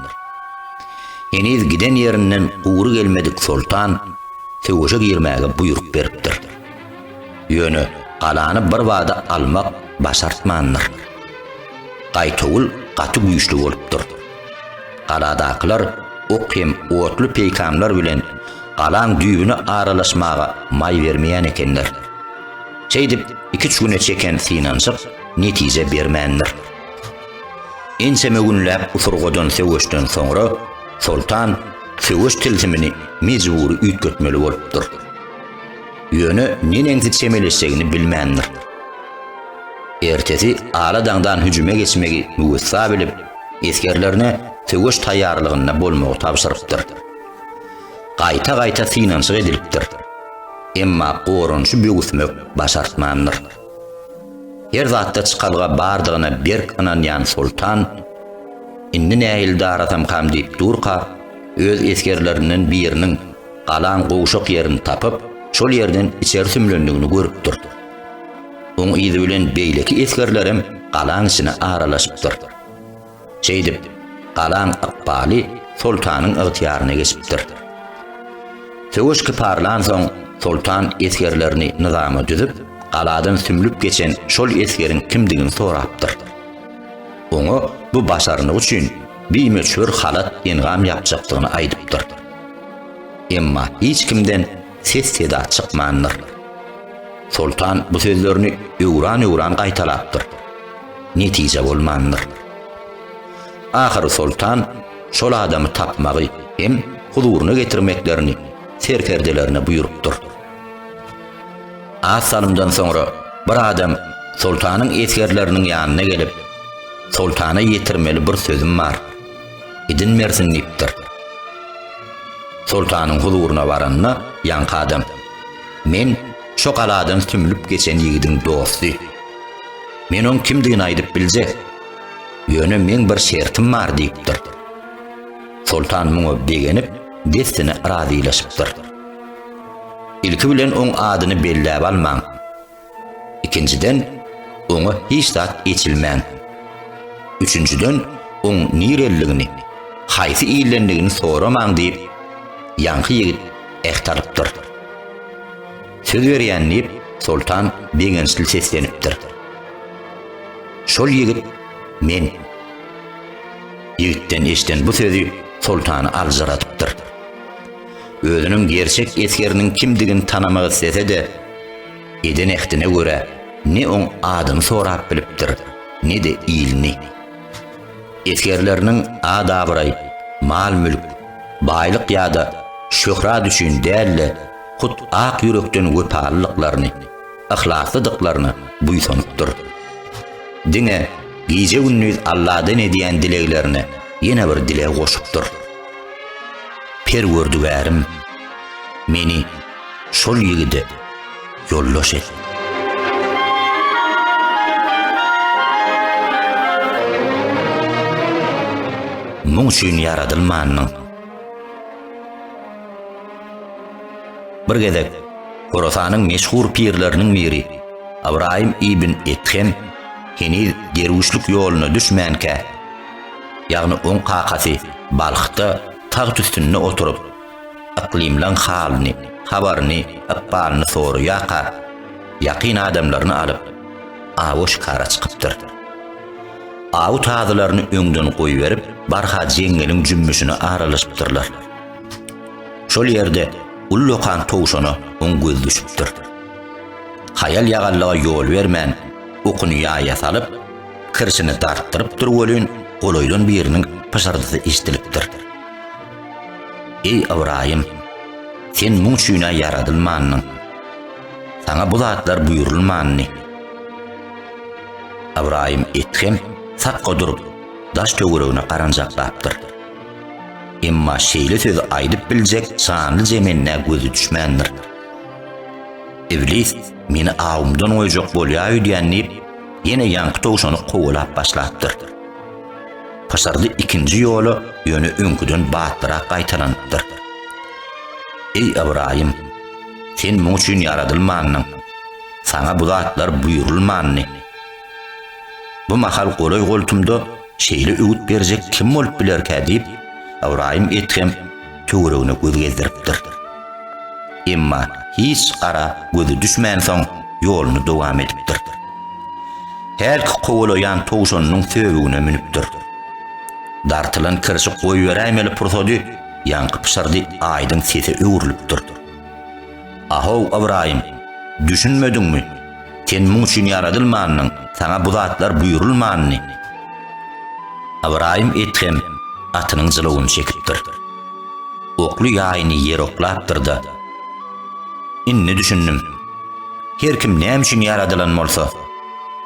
Heniz giden ýerinden gury gelmedik soltan söweşe girmäge buýruk beripdir. Ýöne galany birbada almak başartmandyr. Gaýtawul gaty güýçli bolupdyr. Galadakylar ok hem otly peýkamlar bilen galaň düýbüne aralaşmaga maý bermeýän ekenler. Şeýdip, iki-üç güne çeken synanyşyk netije bermändir. Ençeme günläp usurgadan söweşden soňra soltan söweş tilsimini mejbury üýtgetmeli bolupdyr. Ýöne neneňsi çemeleşjegini bilmändir. Ertesi ala daňdan hüjüme geçmegi müwessa bilip, esgerlerine söweş taýýarlygynda bolmagy tabşyrypdyr. Gaýta-gaýta synanyşyk edilipdir. Emma goranyşy böwüsmek başartmandyr. Her zatda çykalga bardygyna berk ynanýan soltan, Indi nähili darasam-kam diýip durka, öz esgerlerinden biriniň, galaň gowşak ýerini tapyp, şol ýerden içeri sümlendigini görüpdir. Oň yzy bilen beýleki esgerlerem galaň içine aralaşypdyr. Şeýdip, galaň ykbaly soltanyň ygtyýaryna geçipdir. Söweş kyparlansoň, soltan esgerlerini nyzama düzüp, galadan sümlüp geçen şol esgeriň kimdigini sorapdyr. Oňa bu başarnygy üçin bimöçber halat-engam ýapjakdygyny aýdypdyr. Emma hiç kimden ses-seda çykmandyr. Soltan bu sözlerini öwran-öwran gaýtalapdyr. Netije bolmandyr. Ahyry soltan şol adamy tapmagy hem huzuryna getirmeklerini serkerdelerine buýrupdyr. Az salymdan soňra bir adam soltanyň esgerleriniň ýanyna gelip, Soltana ýetirmeli bir sözüm bar. idin bersin diýipdir. Soltanyň huzuryna baranda ýaňky adam, Men şo galadan sümlüp geçen ýigidiň dosty. Men oň kimdigini aýdyp biljek. Ýöne meň bir şertim bar diýipdir. Soltan muňa begenip, dessine razylaşypdyr. Ilki bilen oň adyny belläp almaň. Ikinjiden, oňa hiç zat eçilmän. Üçünjiden, oň nireliligini, haýsy ildendigini soramaň diýip, ýaňky ýigit äht alypdyr. Söz berýän diýip, soltan begençli seslenipdir. Şol ýigit men. Ýigitden eşden bu sözi soltany aljyradypdyr. özüniň gerçek esgeriniň kimdigini tanamak islese-de, eden ähdine görä, ne oň adyny sorap bilipdir, ne-de ilini. Esgerleriniň at-abraý, mal-mülk, baýlyk ýa-da şöhrat üçin däl-de, hut ak ýürekden wepalylyklaryny, yhlaslydyklaryna buýsanypdyr. Diňe gije-gündiz Alladan edýän dileglerine ýene bir dileg goşupdyr. Perwerdigärim, meni şol ýigide ýoldaş et. Muň üçin ýaradylmandyň. Bir gezek Horasanyň meşhur pirleriniň biri Ybraýym ibn Ethem heniz derwüşlik ýoluna düşmänkä, ýagny oň kakasy Balhda tagt üstünde oturyp, yklymlaň halyny, habaryny, ykbalyny soraýarka, ýakyn adamlaryny alyp, awa şikara çykypdyr. Aw tazylaryny öňden goýberip, barha jeňňeliň jümmüşine aralaşypdyrlar. Şol ýerde ullakan towşana oň gözi düşüpdir. Haýal-ýagallyga ýol bermän, okuny ýaýa salyp, Kirşini dartdyrypdyr welin, golaýdan biriniň pyşyrdysy eşidilipdir. Eý, Ybraýym, sen muň üçin-ä ýaradylmandyň. Saňa bu zatlar buýrulmandy. Ybraýym Ethem sakga durup, daş töweregine garanjaklapdyr. Emma şeýle sözi aýdyp biljek janly zemende gözi düşmändir. Iblis meni awumdan goýjak bolýar öýdýän diýip, Ýene ýaňky towşany kowalap başlapdyr. Pyşyrdy ikinji ýola ýöne öňküden batlyrak gaýtalanypdyr. Eý Ybraýym, sen muň üçin ýaradylmandyň. Saňa bu zatlar buýrulmandy. Bu mahal golaý-goltumda Şeýle öwüt berjek kim bolup bilerkä diýip, Ybraýym Edhem töweregine göz gezdiripdir. Emma hiç ara gözi düşmänsoň, ýoluny dowam edipdir. Hälki kowalaýan towşanynyň söbügine münüpdir. Dartylan kirşi goýberäýmeli pursady ýaňky pyşyrdy aýdyň sese öwrülipdir. A-how, Ybraýym! Düşünmediňmi? Sen muň üçin ýaradylmandyň, saňa bu zatlar buýrulmandy. Ybraýym edhem atynyň jylawyny çekipdir. Okly ýaýyny ýere oklapdyr-da. Indi düşündim. Her kim näme üçin ýaradylan bolsa,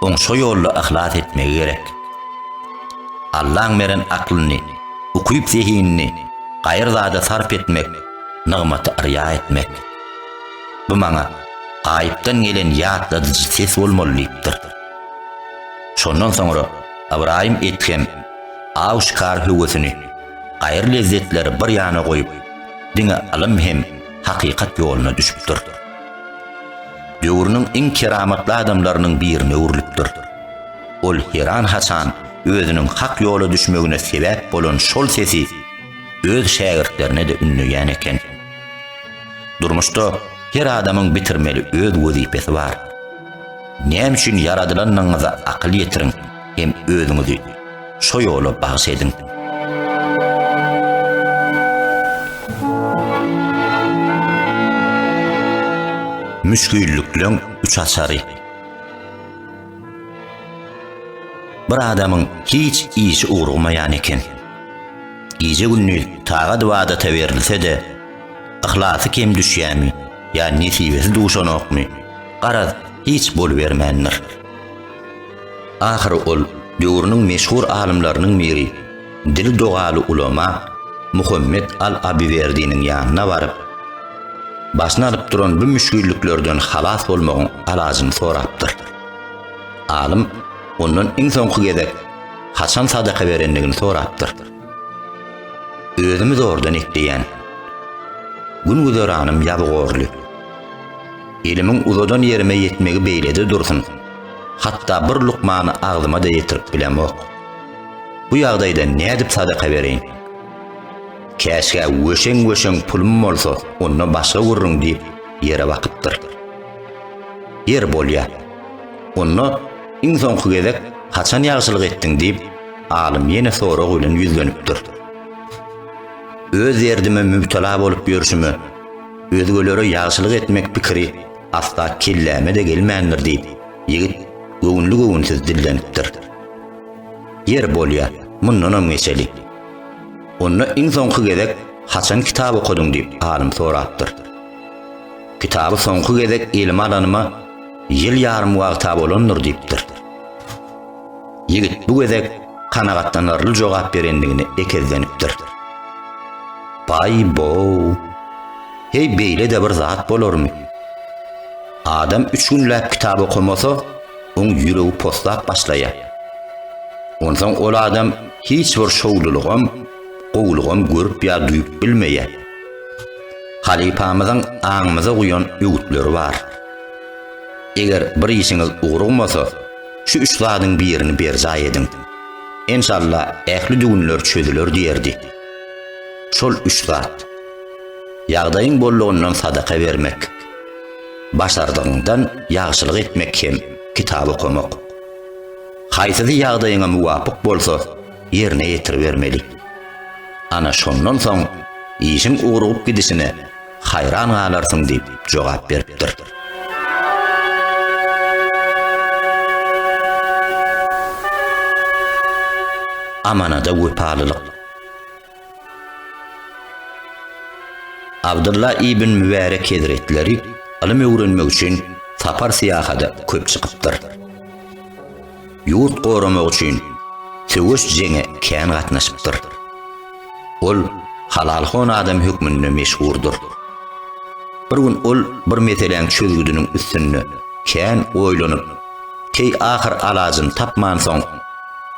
oň şo ýolda yhlas etmegi gerek. Allaň beren aklyny, ukyp-zehinini gaýry zada sarp etmek nygmaty yrýa etmek. Bu maňa gaýypdan gelen ýatladyjy ses bolmaly diýipdir. Şondan soňra Ybraýym Edhem aw-şikar höwesini, gaýry-lezzetleri bir ýana goýup, diňe ylym hem hakykat ýoluna düşüpdir. Döwrüniň iň keramatly adamlarynyň birine öwrülipdir. Ol heran-haçan özüniň hak ýola düşmegine sebäp bolan şol sesi öz şägirtlerine-de ündeýän eken. Durmuşda her adamyň bitirmeli öz wezipesi bar. Näme üçin ýaradylanyňyza akyl ýetiriň hem özüňizi şo ýola bagyş ediň. Müşgillikleň üç açary. Bir adamyň hiç işi ugramaýan eken. Gije-gündiz tagat-ybadata berilse-de, yhlasy kem düşýärmi ýa nesibesi duşanokmy, garaz, hiç bolubermändir. Ahyry ol döwrüniň meşhur alymlarynyň biri Dili dogaly ulama Muhammet al-Abywerdiniň ýanyna baryp, başyny alyp duran bu müşgilliklerden halas bolmagyň alajyny sorapdyr. Alym ondan iň soňky gezek haçan sadaka berendigini sorapdyr. Özümi zordan ekleýän. Gün-güzeranym ýabygorly. Elimiň uzadan ýerime ýetmegi beýlede dursun, hatda bir lukmany agzyma-da ýetirip bilemok. Bu ýagdaýda nädip sadaka bereýin? Käşgä wöşeň-wöşeň pulum bolsa, onda başga gurruň diýip, ýere bakypdyr. Ýer bolýa. Onda iň soňky gezek haçan ýagşylyk etdiň diýip, alym ýene sorag bilen ýüzlenipdir. Öz derdime mübtela bolup ýörşüme, özgelere ýagşylyk etmek pikiri asla kelläme-de gelmändir diýip, ýigit göwünli-göwünsiz dillenipdir. Ýer bolýa, mundanam geçeli. Onda iň soňky gezek haçan kitap okadyň diýip alym sorapdyr. Kitaby soňky gezek elime alanyma ýyl ýarym wagta bolandyr diýipdir. Ýigit bu gezek kanagatlanarly jogap berendigine ekezlenipdir. Baý bow. Heý beýle-de bir zat bolarmy? Adam üç günläp kitap okamasa, oň ýüregi poslap başlaýar. Onsoň ol adam hiç bir şowlulygam, gowulygam görüp ýa duýup bilmeýär. Halypamyzyň aňymyza guýan öwütleri bar. Eger bir işiňiz ugrugmasa, şu üç zadyň birini berjaý ediň. Enşalla ähli düwünler çözüler diýerdi. Şol üç zat. Ýagdaýyň bollugyndan sadaka bermek. Başardygyňdan ýagşylyk etmek hem kitap okamak. Haýsysy ýagdaýyňa muwapyk bolsa, ýerine ýetiribermeli. Ana şondan soň işiň ugrugyp gidişine haýran galarsyň diýip jogap beripdir. Amanada wepalylyk. Abdylla ibn Mübärek hezretleri ylym öwrenmek üçin sapar syýahada köp çykypdyr. Ýurt goramak üçin söweş jeňe kän gatnaşypdyr. Ol halalhon adam hökmünde meşhurdyr. Bir gün ol bir meseläň çözgüdiniň üstünde kän oýlanyp Keý ahyr alajyny tapmansoň,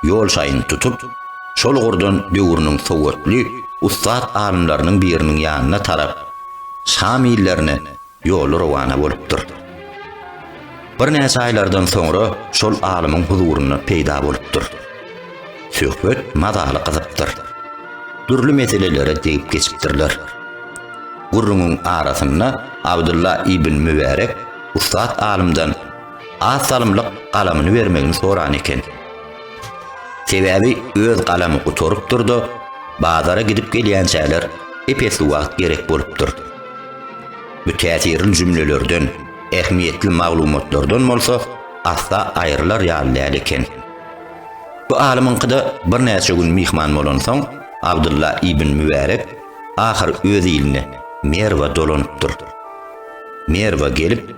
ýol şaýyny tutup, şol ugurdan döwrüniň sowatly, ussat alymlarynyň biriniň ýanyna tarap, Şam illerine ýoly rowana bolupdyr. Birnäçe aýlardan soňra şol alymyň huzurynda peýda bolupdyr. Söhbet mazaly gyzypdyr. Dürli meselelere degip geçipdirler. Gürrüňiň arasynda Abdylla ibn Mübärek ussat alymdan Az salymlyk galamyny bermegini soran eken. Sebäbi öz galamy gutarypdyr-da, bazara gidip gelýänçäler ep-esli wagt gerek bolupdyr. Bu täsirli jümlelerden, ähmiýetli maglumatlardan bolsa asla aýrylar ýaly däl eken. Bu alymyňkyda birnäçe gün myhman bolansoň, Abdylla ibn Mübärek ahyr öz iline, Merwa dolanypdyr. Merwa gelip,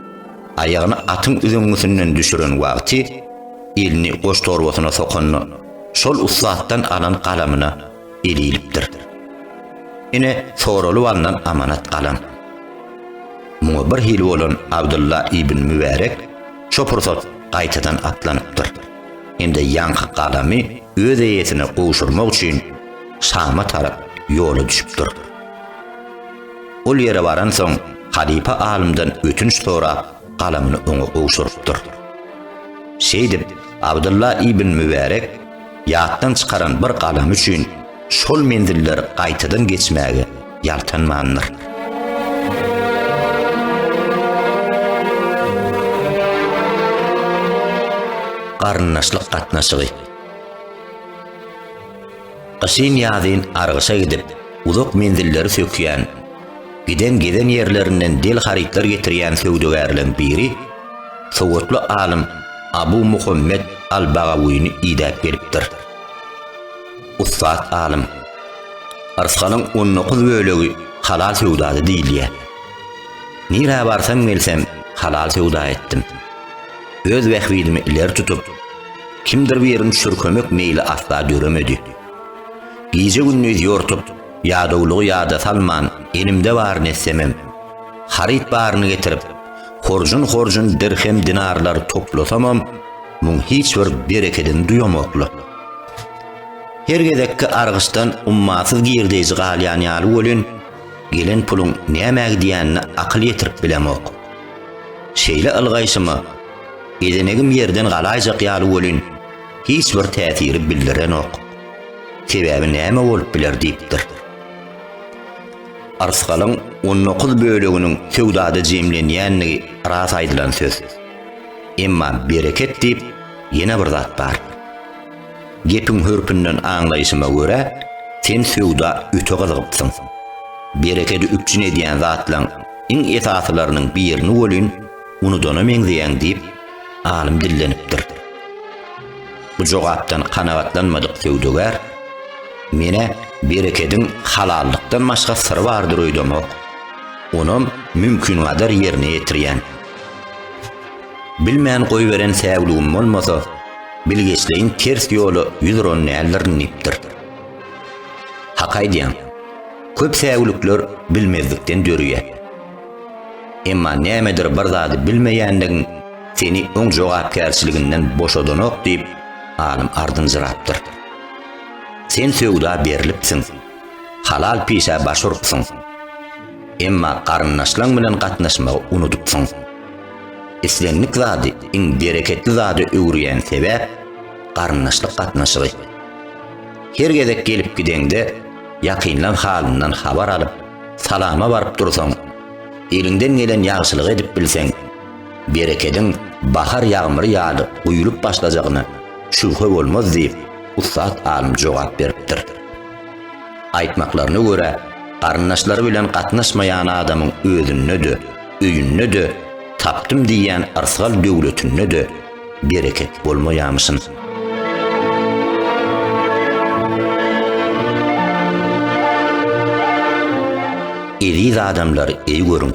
Aýagyny atyň üzeňňisinden düşüren wagty, elini goştorbasyna sokanda, şol ussatdan alan galamyna eli ilipdir. Ine, soralyp alnan amanat galam. Muňa birhili bolan Abdylla ibn Mübärek şo pursat gaýtadan atlanypdyr hem-de ýaňky galamy öz eýesine gowşurmak üçin Şama tarap ýola düşüpdir. Ol ýere baransoň, halypa alymdan ötünç sorap, galamyny oňa gowşurypdyr. Şeýdip, Abdylla ibn Mübärek ýatdan çykaran bir galamy üçin şol menzilleri gaýtadan geçmäge ýaltanmandyr. Garyndaşlyk gatnaşygy. Gyşyn-ýazyn argyşa gidip, uzak menzilleri sökýän, giden gezen ýerlerinden del harytlar getirýän söwdagärleň biri sowatly alym Abu Muhammet al-Bagawyny idäp gelipdir. Ussat alym, Rysgalyň on dokuz bölegi halal söwdady diýilýär. Nirä barsam-gelsem halal söwda etdim. Öz bähbidimi ileri tutup, Kimdir biriň çürkemek meýli asla döremedi. Gije-gündiz ýortup, ýadawlygy ýada salman, elimde baryny etsemem, haryt baryny getirip, horjun-horjun dirhem-dinarlar toplasamam, muň hiç bir berekedini duýamokly. Her gezekki argyçdan ummasyz girdeýji galýan ýaly welin, gelen puluň nämä gidýänine akyl ýetirip bilemok. Şeýle ylgaýşyma, Gezenegim ýerden galaýjak ýaly welin, hiç bir täsiri bildirenok. Sebäbi näme bolup biler diýipdir. Arsgalyň on dokuz böleginiň söwdada jemlenýändigi ras aýdylan söz. Emma bereket diýip ýene bir zat bar. Gepiň hörpünden aňlaýşyma görä, sen söwda öte gyzygypsyň. Berekedi üpjün edýän zatlaň iň esasylarynyň birini welin, unudana meňzeýäň diýip, alym dillenipdir. Bu jogapdan kanagatlanmadyk söwdagär, Men-ä berekediň halallykdan başga syry bardyr öýdemok. Onam mümkingadar ýerine ýetirýän. Bilmän goýberen säwligim bolmasa, bilgeşleýin ters ýola ýüz uran däldirin diýipdir. Hak aýdýaň. Köp säwlikler bilmezlikden dörýär. Emma nämedir bir zady bilmeýänligiň seni oň jogapkärçiliginden boşadanok diýip, alym ardynjyrapdyr. Sen söwda berlipsiň, halal pişä baş urupsyň. Emma garyndaşlaň bilen gatnaşmagy unudypsyň. Islendik zady iň bereketli zada öwürýän sebäp, garyndaşlyk gatnaşygy. Her gezek gelip gideňde, ýakynlaň halyndan habar alyp, Salama baryp dursaň, eliňden gelen ýagşylygy edip bilseň, berekediň bahar ýagmyry ýaly guýlup başlajagyna şübhe bolmaz diýip, ussat alym jogap beripdir. Aýtmaklaryna görä, garyndaşlary bilen gatnaşmaýan adamyň özünde-de, öýünde-de, tapdym diýýän yrsgal döwletinde-de, Bereket bolmaýamyşyn. Eziz adamlar, eý görüň.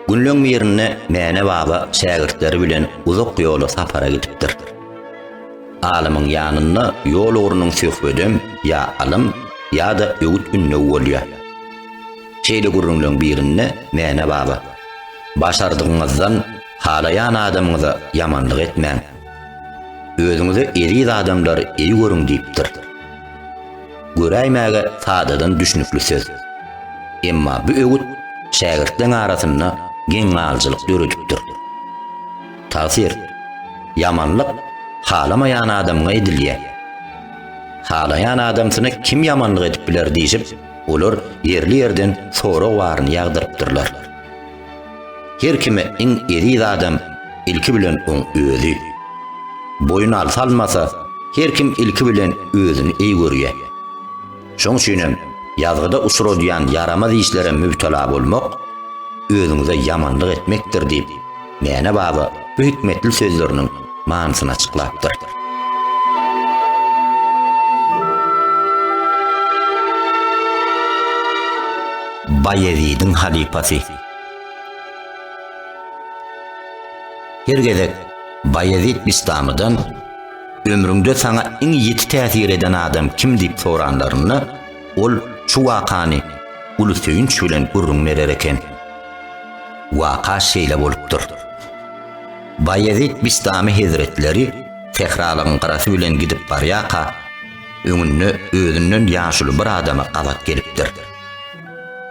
Günleň birinde Mäne baba şägirtleri bilen uzak ýola sapara gidipdir. Alymyň ýanynda ýol ugrunyň söhbedem ýa alym ýa-da öwüt-ündew bolýar. Şeýle gürrüňleň birinde Mäne baba, Başardygyňyzdan halaýan adamyňyza ýamanlyk etmäň. Özüňize eziz adamlary eý görüň diýipdir. Göräýmäge sadadan düşnükli söz. Emma bu öwüt şägirtleň arasynda geň galyjylyk döredipdir. Tagsyr, Ýamanlyk halamaýan adamyňa edilýär. Halaýan adamsyna kim ýamanlyk edip biler diýşip, Olar ýerli-ýerden sorag baryny ýagdyrypdyrlar. Her kime iň eziz adam ilki bilen oň özi. Boýun alsa-almasa, her kim ilki bilen özüni eý görýä. Şoň üçin hem ýazgyda uçradýan ýaramaz işlere mübtela bolmak, özüňize ýamanlyk etmekdir diýip, Mäne baba bu hikmetli sözleriniň manysyny açyklapdyr. Baýezidiň halypasy. Her gezek Baýezid Bistamydan ömrüňde saňa iň ýiti täsir eden adam kim diýip soranlarynda, ol şu wakany uly söýünç bilen gürrüň berer eken. Waka şeýle bolupdyr. Baýezit Bistami hezretleri sähralygyň gyrasy bilen gidip barýarka, öňünde özünden ýaşuly bir adama gabat gelipdir.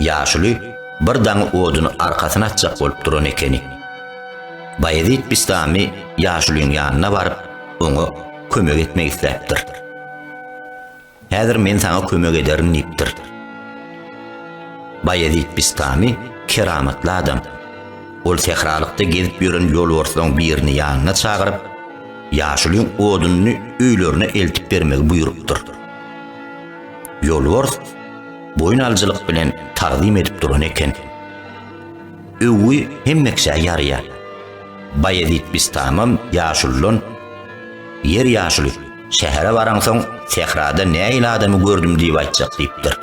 Ýaşuly bir daň oduny arkasyna atjak bolup duran ekeni. Baýezit Bistami ýaşulyň ýanyna baryp, oňa kömek etmek isläpdir. Häzir men saňa kömek ederin diýipdir. Baýezit Bistamy keramatly adam. Ol sähralykda gezip ýören ýolbarslaryň birini ýanyna çagyryp, ýaşulyň odunyny öýlerine eltip bermegi buýrupdyr. Ýolbars boýun alyjylyk bilen tagzym edip duran eken. Öwgi hemmeksä ýarýar. Baýezit Bistamam ýaşulydan, Ýer ýaşuly, Şähere baraňsoň, sährada nähili adamy gördüm diýip aýtjak diýipdir.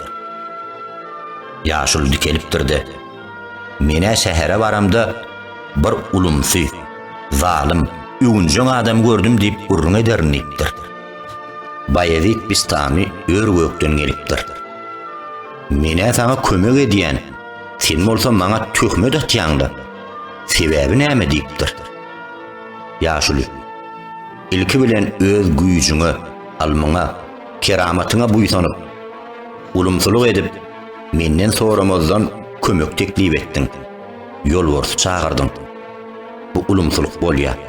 Ýaşuly dikelipdir-de, Men-ä şähere baramda bir ulumsy, zalym, öwünjeň adamy gördüm diýip gürrüň ederin diýipdir. Baýezit Bistamy ör-gökden gelipdir. Men-ä saňa kömek edýän, sen bolsa maňa töhmet atýaň-da. Sebäbi näme diýipdir. Ýaşuly. Ilki bilen öz güýjüňe, ylmyňa, keramatyňa buýsanyp, ulumsylyk edip, menden soramazdan kömek teklip etdiň, ýolbarsy çagyrdyň. Bu ulumsylyk bolýar.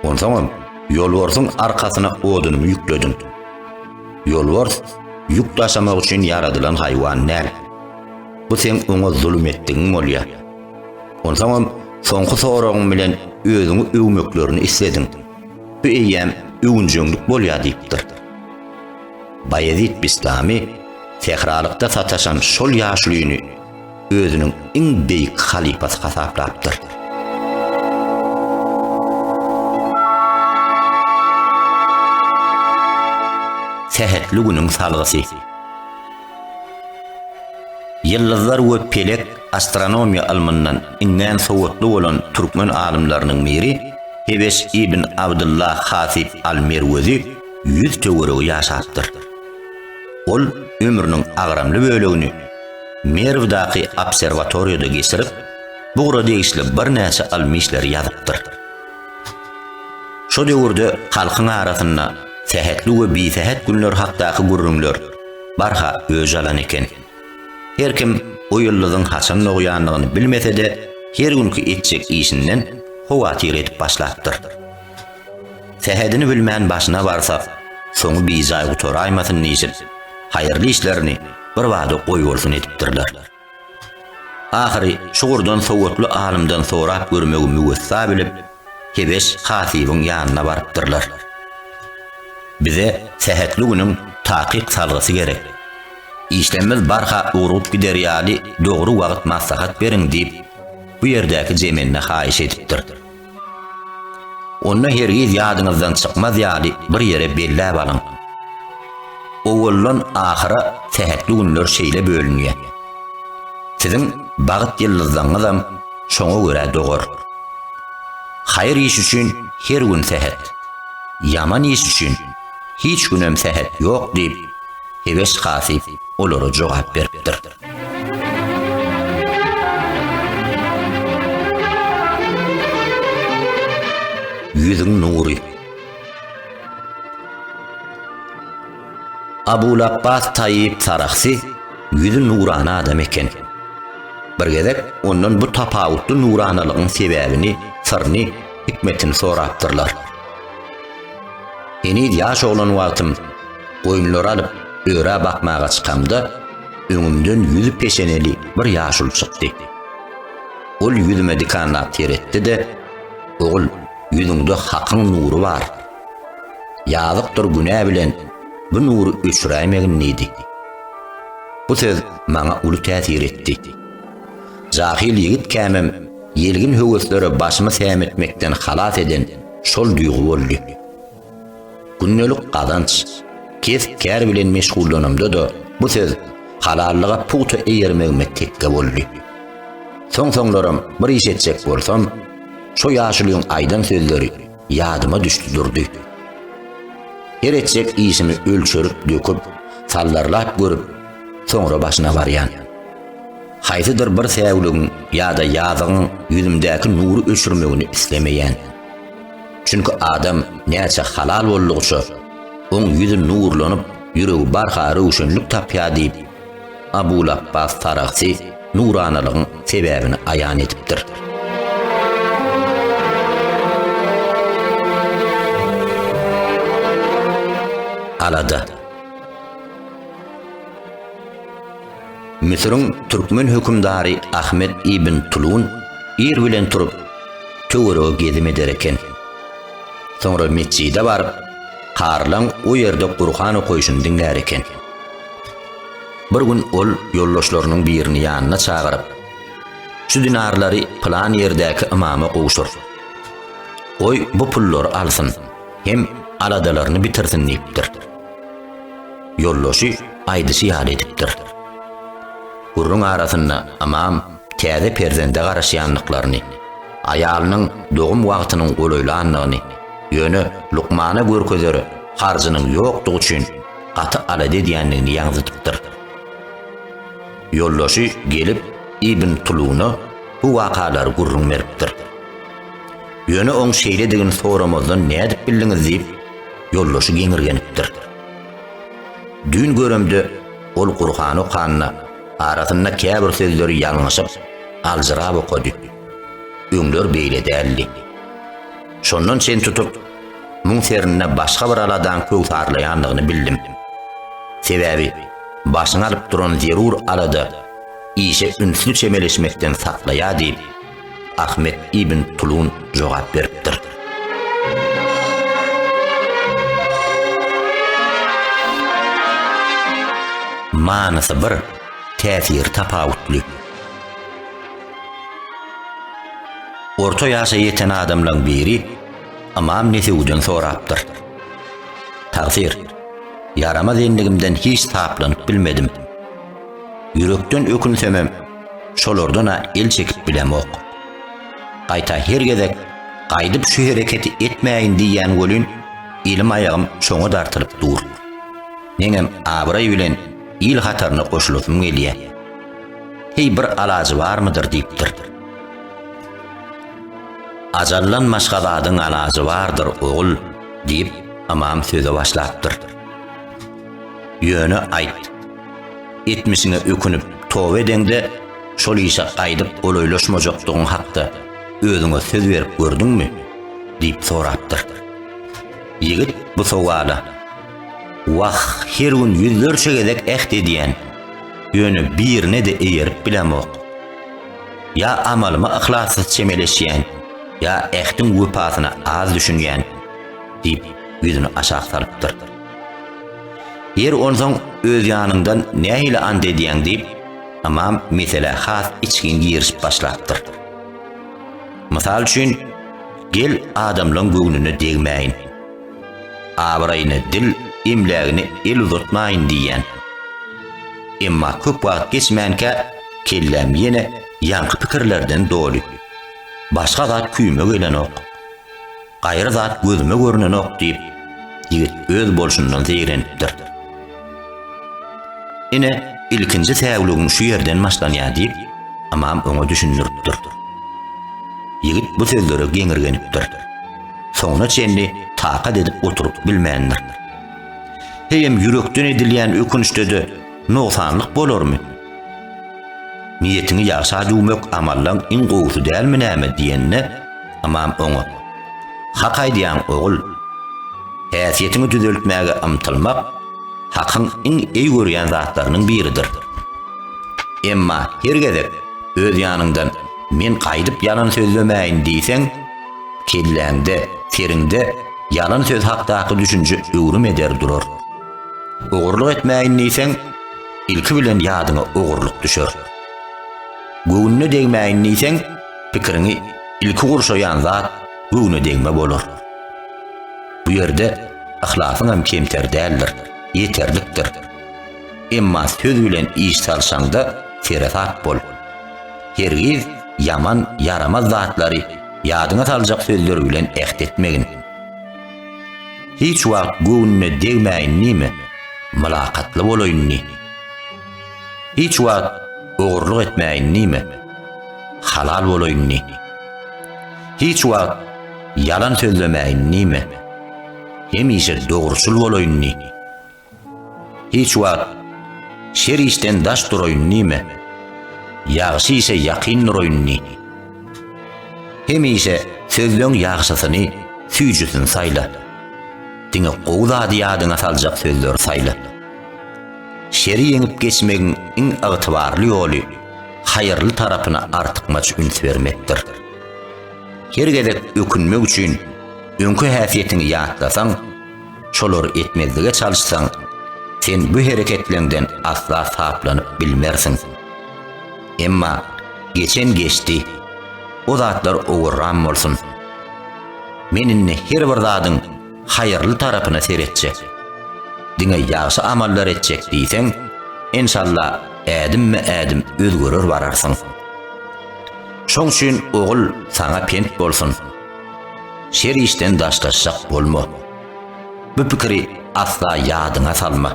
Onsoňam, ýolbarsyň arkasyna odunymy ýüklediň. Ýolbars ýük daşamak üçin ýaradylan haýwan däl. Bu seň oňa zulum etdigiň bolýar. Onsoňam soňky soragyň bilen özüňi öwmeklerini islediň. Bu eýýäm öwünjeňlik bolýar diýipdir. Baýezit Bistami sähralykda sataşan şol ýaşulyny özüniň iň beýik halypasy hasaplapdyr. Sähetli günüň salgysy. Ýyldyzlar we pelek astronomiýa ylmyndan iňňän sowatly bolan türkmen alymlarynyň biri Heweş ibn Abdylla Hasyp al-Merwezi ýüz töweregi ýaşapdyr. Ol ömrüniň agramly bölegini Merwdaky obserwatoriýada geçirip, bu ugura degişli birnäçe ylmy işleri ýazypdyr. Şo döwürde halkyň arasynda sähetli we bisähet günler hakdaky gürrüňler, barha öj alan eken. Her kim bu ýyldyzyň haçan dogýandygyny bilmese-de, her günki etjek işinden howatyr edip başlapdyr. Sähedini bilmän başyna barsa, soňy bijaý gutaraýmasyn diýşip, haýyrly işlerini birbada goýbolsun edipdirler. Ahyry çugurdan sowatly alymdan sorap görmegi müwessa bilip, Hebeş hatybyň ýanyna barypdyrlar. Bize sähetli günüň takyk salgysy gerek. Işlerimiz barha ugrup gider ýaly dogry wagt maslahat beriň diýip, bu ýerdäki zemende haýyş edipdir. Onda hergiz ýadyňyzdan çykmaz ýaly bir ýere belläp alyň. Owaldan ahyra sähetli günler şeýle bölünýär. Siziň bagt ýyldyzlaňyzam şoňa görä dogar. Haýyr iş üçin her gün sähet, ýaman iş üçin hiç günem sähet ýok diýip, heweş hasyp olara jogap beripdir. Ýüzüň nury. Abul Abbas Taýyp Sarahsy ýüzi nurana adam eken. Bir gezek ondan bu tapawutly nuranalygyň sebäbini, syryny, hikmetini sorapdyrlar. Heniz ýaş oglan wagtym goýunlary alyp, örä bakmaga çykamda, öňümden ýüzi peşeneli bir ýaşuly çykdy. Ol ýüzüme dikanlap seretdi-de, Ogul, ýüzüňde Hakyň nury bar. Ýazykdyr günä bilen bu nury öçüräýmegin diýdi. Bu söz maňa uly täsir etdi. Jahyl ýigit kämem ýelgin höweslere başymy sämetmekden halas eden şol duýgy boldy. Gündelik gazanç, kesp-kär bilen meşgullanymda-da bu söz halallyga pugta eýermegime tekge boldy. Soň-soňlaram bir iş etjek bolsam, şo ýaşulyň aýdan sözleri ýadyma düşdi durdy. Her etjek işimi ölçerip-döküp, sallarlap görüp, soňra başyna barýan. Haýsydyr bir säwligiň ýa-da ýazygyň ýüzümdäki nury öçürmegini islemeýän. Çünki adam näçe halal boldugyça, oň ýüzi nurlanyp, ýüregi barha röwşenlik tapýar diýip, Abul Apbas Taragsi nuranalygyň sebäbini aýan edipdir. Alada. Müsüriň türkmen hökümdary Ahmet ibn Tulun ir bilen turup, töwerege gezim eder eken. Soňra metjide baryp, Karlaň o ýerde Gurhan okaýşyny diňlär eken. Bir gün ol ýoldaşlarynyň birini ýanyna çagyryp, Şu dinarlary pylan ýerdäki ymama gowşur. Goý, bu pullary alsyn hem aladalaryny bitirsin diýipdir. Ýoldaşy aýdyşy ýaly edipdir. Gürrüň arasynda Ymam täze perzende garaşýandyklaryny, aýalynyň dogum wagtynyň golaýlandygyny, ýöne lukmana görkezer harjynyň ýokdugy üçin gaty alada edýändigini ýaňzydypdyr. Ýoldaşy gelip Ibn Tuluna bu wakalary gürrüň beripdir. Ýöne oň şeýledigini soramazdan nädip bildiňiz diýip, Ýoldaşy geňirgenipdir. Düýn göremde ol Gurhan okanda arasynda käbir sözleri ýalňyşyp, aljyrap okady. Öňler beýle däldi. Şondan çen tutup, muň serinde başga bir aladaň köwsarlaýandygyny bildim. Sebäbi başyňy alyp duran zerur alada işe ünsli çemeleşmekden saklaýar diýip, Ahmet ibn Tulun jogap beripdir. Manysy bir, täsiri tapawutly. Orta ýaşa ýeten adamlaň biri Ymam Nesewiden sorapdyr. Tagsyr, ýaramaz endigimden hiç saplanyp bilmedim. Ýürekden ökünsemem, şolardan-a el çekip bilemok. Gaýta her gezek gaýdyp şu hereketi etmäýin diýýän welin, elim-aýagym şoňa dartylyp dur. Meňem abraý bilen il hataryna goşulasym gelýä. Heý bir alajy barmydyr diýipdir. Ajallan maşgaladyň alajy bardyr, ogul, diýip, ymam söze başlapdyr. Ýöne aýt. Etmişiňe ökünip, toba edeňde, şol işe gaýdyp golaýlaşmajakdygyň hakda özüňe söz berip gördüňmi? diýip sorapdyr. Ýigit bu sowala, Wah, her gün ýüzlerçe gezek äht edýän, ýöne birine-de eýerip bilemok. Ýa amalyma yhlassyz çemeleşýän, ýa ähtiň wepasyna az düşünýän, diýip, ýüzüni aşak salypdyr. Ýeri, onsoň öz ýanyňdan nähili ant edýäň? diýip, ymam meselä has içgin girişip başlapdyr. Mysal üçin, Gel, adamlaryň göwnüne degmäýin. Abraýyna dil, emlägine el uzatmaýyn diýýän. Emma köp wagt geçmänkä kelläm ýene ýaňky pikirlerden doly. Başga zat küýüme gelenok. Gaýry zat gözüme görnenok, diýip, ýigit öz bolşundan zeýrenipdir. Ine, ilkinji säwligiň şu ýerden başlanýar, diýip, Amam oňa düşündiripdir. Ýigit bu sözlere geňirgenipdir. Soňuna çenli takat edip oturyp bilmändir. Heýem ýürekden edilýän ökünçde-de nogsanlyk bolarmy? Niýetiňi ýagşa düwmek amallaň iň gowusy dälmi näme? diýende, Ymam oňa, Hak aýdýaň, ogul. Häsiýetiňi düzeltmäge ymtylmak Hakyň iň eý görýän zatlarynyň biridir. Emma her gezek öz ýanyňdan Men gaýdyp ýalan sözlemäýin diýseň, kelläňde, seriňde ýalan söz hakdaky düşünje öwrüm eder durar. Ogurlyk etmäýin diýseň, ilki bilen ýadyňa ogurlyk düşer. Göwnüne degmäýin diýseň, pikiriňi ilki gurşaýan zat göwnedegme bolar. Bu ýerde yhlasyň hem kemter däldir, ýeterlikdir. Emma söz bilen iş salşaňda seresap bol. Hergiz ýaman, ýaramaz zatlary ýadyňa saljak sözler bilen äht etmegin. Hiç wagt göwnüne degmäýin diýme, mylakatly bolaýyn diý. Hiç wagt ogurlyk etmäýin diýme. Halal bolaýyn diý. Hiç wagt ýalan sözlemäýin diýme. Hemişe dogruçyl bolaýyn diý. Hiç wagt şer işden daş duraýyn diýme. Ýagşy işe ýakyn duraýyn diý. Hemişe sözleň ýagşysyny, süýjüsini saýla. Diňe gowy zady ýadyňa saljak sözleri saýla. Şeri ýeňip geçmegiň iň ygtybarly ýoly haýyrly tarapyna artykmaç üns bermekdir. Her gezek ökünmek üçin öňki häsiýetiňi ýatlasaň, şolary etmezlige çalyşsaň, sen bu hereketleňden asla saplanyp bilmersiň. Emma geçen geçdi, o zatlar owurran bolsun. Men indi her bir zadyň haýyrly tarapyna seretjek. Diňe ýagşy amallar etjek diýseň, enşalla ädimme-ädim özgerer bararsyň. Şoň üçin ogul saňa pent bolsun. Şer işden daşlaşjak bolma. Bu pikiri asla ýadyňa salma.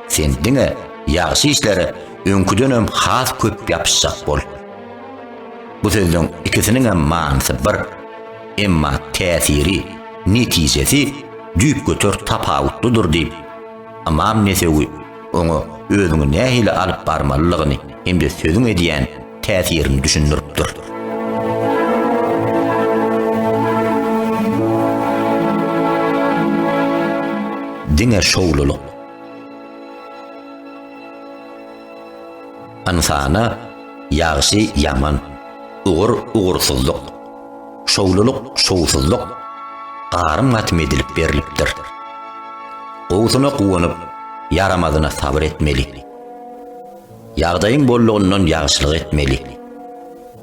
Sen diňe ýagşy işlere öňküdenem has köp ýapyşjak bol. Bu sözleň ikisiniňem manysy bir. Emma täsiri, netijesi düýpgöter tapawutlydyr diýip, Ymam Nesewi oňa özüňi nähili alyp barmalydygyny hem-de sözüň edýän täsirini düşündiripdir. Diňe şowlulyk. Ynsana ýagşy-ýaman, ugur-ugursyzlyk. Şowlulyk, şowsuzlyk garym-gatym edilip berlipdir. Gowusyna guwanyp, ýaramazyna sabyr etmeli. Ýagdaýyň bollugyndan ýagşylyk etmeli.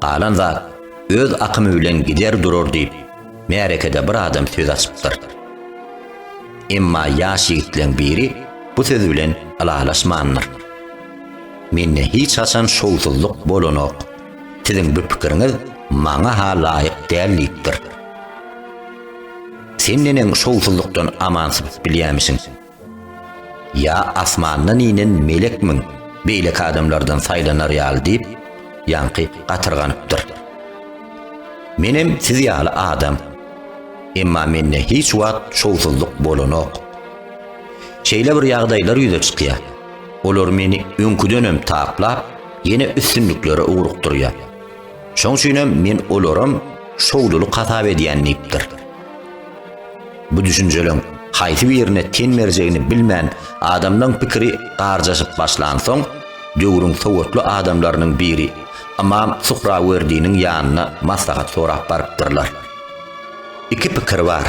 Galan zat öz akymy bilen gider durar diýip, märekede bir adam söz açypdyr. Emma ýaş ýigitleň biri bu söz bilen ylalaşmandyr. Mende hiç haçan şowsuzlyk bolanok. Siziň bu pikiriňiz maňa-ha laýyk däl diýipdir. Sen neneň şowsuzlykdan aman sypyp bilýämişiň? Ýa asmandan inen melekmiň beýleki adamlardan saýlanar ýaly diýip, ýaňky gatyrganypdyr. Menem siz ýaly adam. Emma mende hiç wagt şowsuzlyk bolanok. Şeýle bir ýagdaýlar ýüze çykýar. Olar meni öňküdenem taplap, ýene üstünliklere ugrukdyrýar. Şoň üçin hem men olaram şowlulyk hasap edýän diýipdir. Bu düşünjeleň haýsy birine ten berjegini bilmän adamlaň pikiri garjaşyp başlansoň, döwrüň sowatly adamlarynyň biri Ymam Suhrawerdiniň ýanyna maslahat sorap barypdyrlar. Iki pikir bar.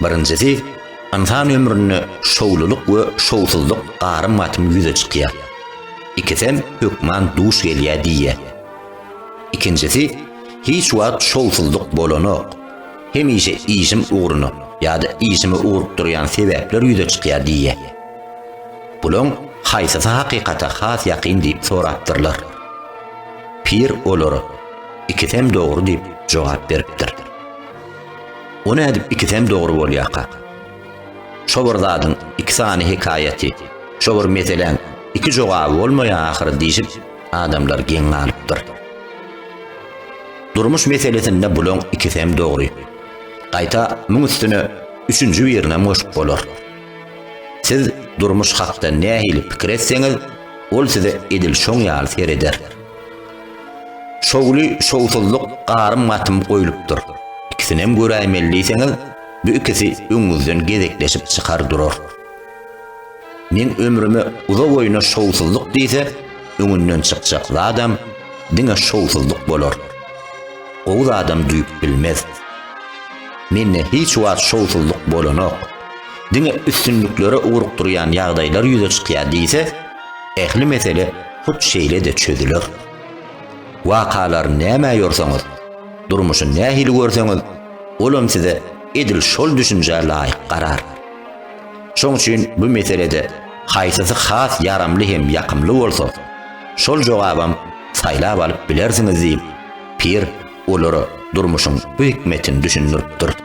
Birinjisi, ynsan ömründe şowlulyk we şowsuzlyk garym-gatym ýüze çykýar. Ikisem hökman duş gelýär diýýär. Ikinjisi, Hiç wagt şowsuzlyk bolanok. Hemişe işim ugruna ýa-da işimi ugrup durýan sebäpler ýüze çykýar diýýär. Bulaň haýsysy hakykata has ýakyn diýip sorapdyrlar. Pir olara, Ikisem dogry diýip jogap beripdir. O nädip ikisem dogry bolýarka? Şo bir zadyň iki sany hekaýaty, şo bir meseläň iki jogaby bolmaýar ahyry diýşip, adamlar geň galypdyr. Durmuş meselesinde bulaň ikisem dogry. Gaýta muň üstüne üçünji birinem goşup bolar. Siz durmuş hakda nähili pikir etseňiz, ol size edil şoň ýaly sereder. Şowly-şowsuzlyk garym-gatym goýlupdyr. Ikisinem göräýmeli diýseňiz, Bu ikisi öňüňizden gezekleşip çykar durar. Meň ömrüme uza boýuna şowsuzlyk diýse, öňünden çykjak zadam diňe şowsuzlyk bolar. Gowy zadam düýp bilmez. Mende hiç wagt şowsuzlyk bolanok. Diňe üstünliklere ugrukdyrýan ýagdaýlar ýüze çykýar diýse, ähli mesele hut şeýle-de çözüler. Wakalar nämä ýorsaňyz, Durmuşy nähili görseňiz, olam size edil şol düşünjä laýyk garar. Şoň üçin bu meselede haýsysy has ýaramly hem ýakymly bolsa, şol jogabam saýlap alyp bilersiňiz diýip, pir olara durmuşyň bu hikmetini düşündiripdir.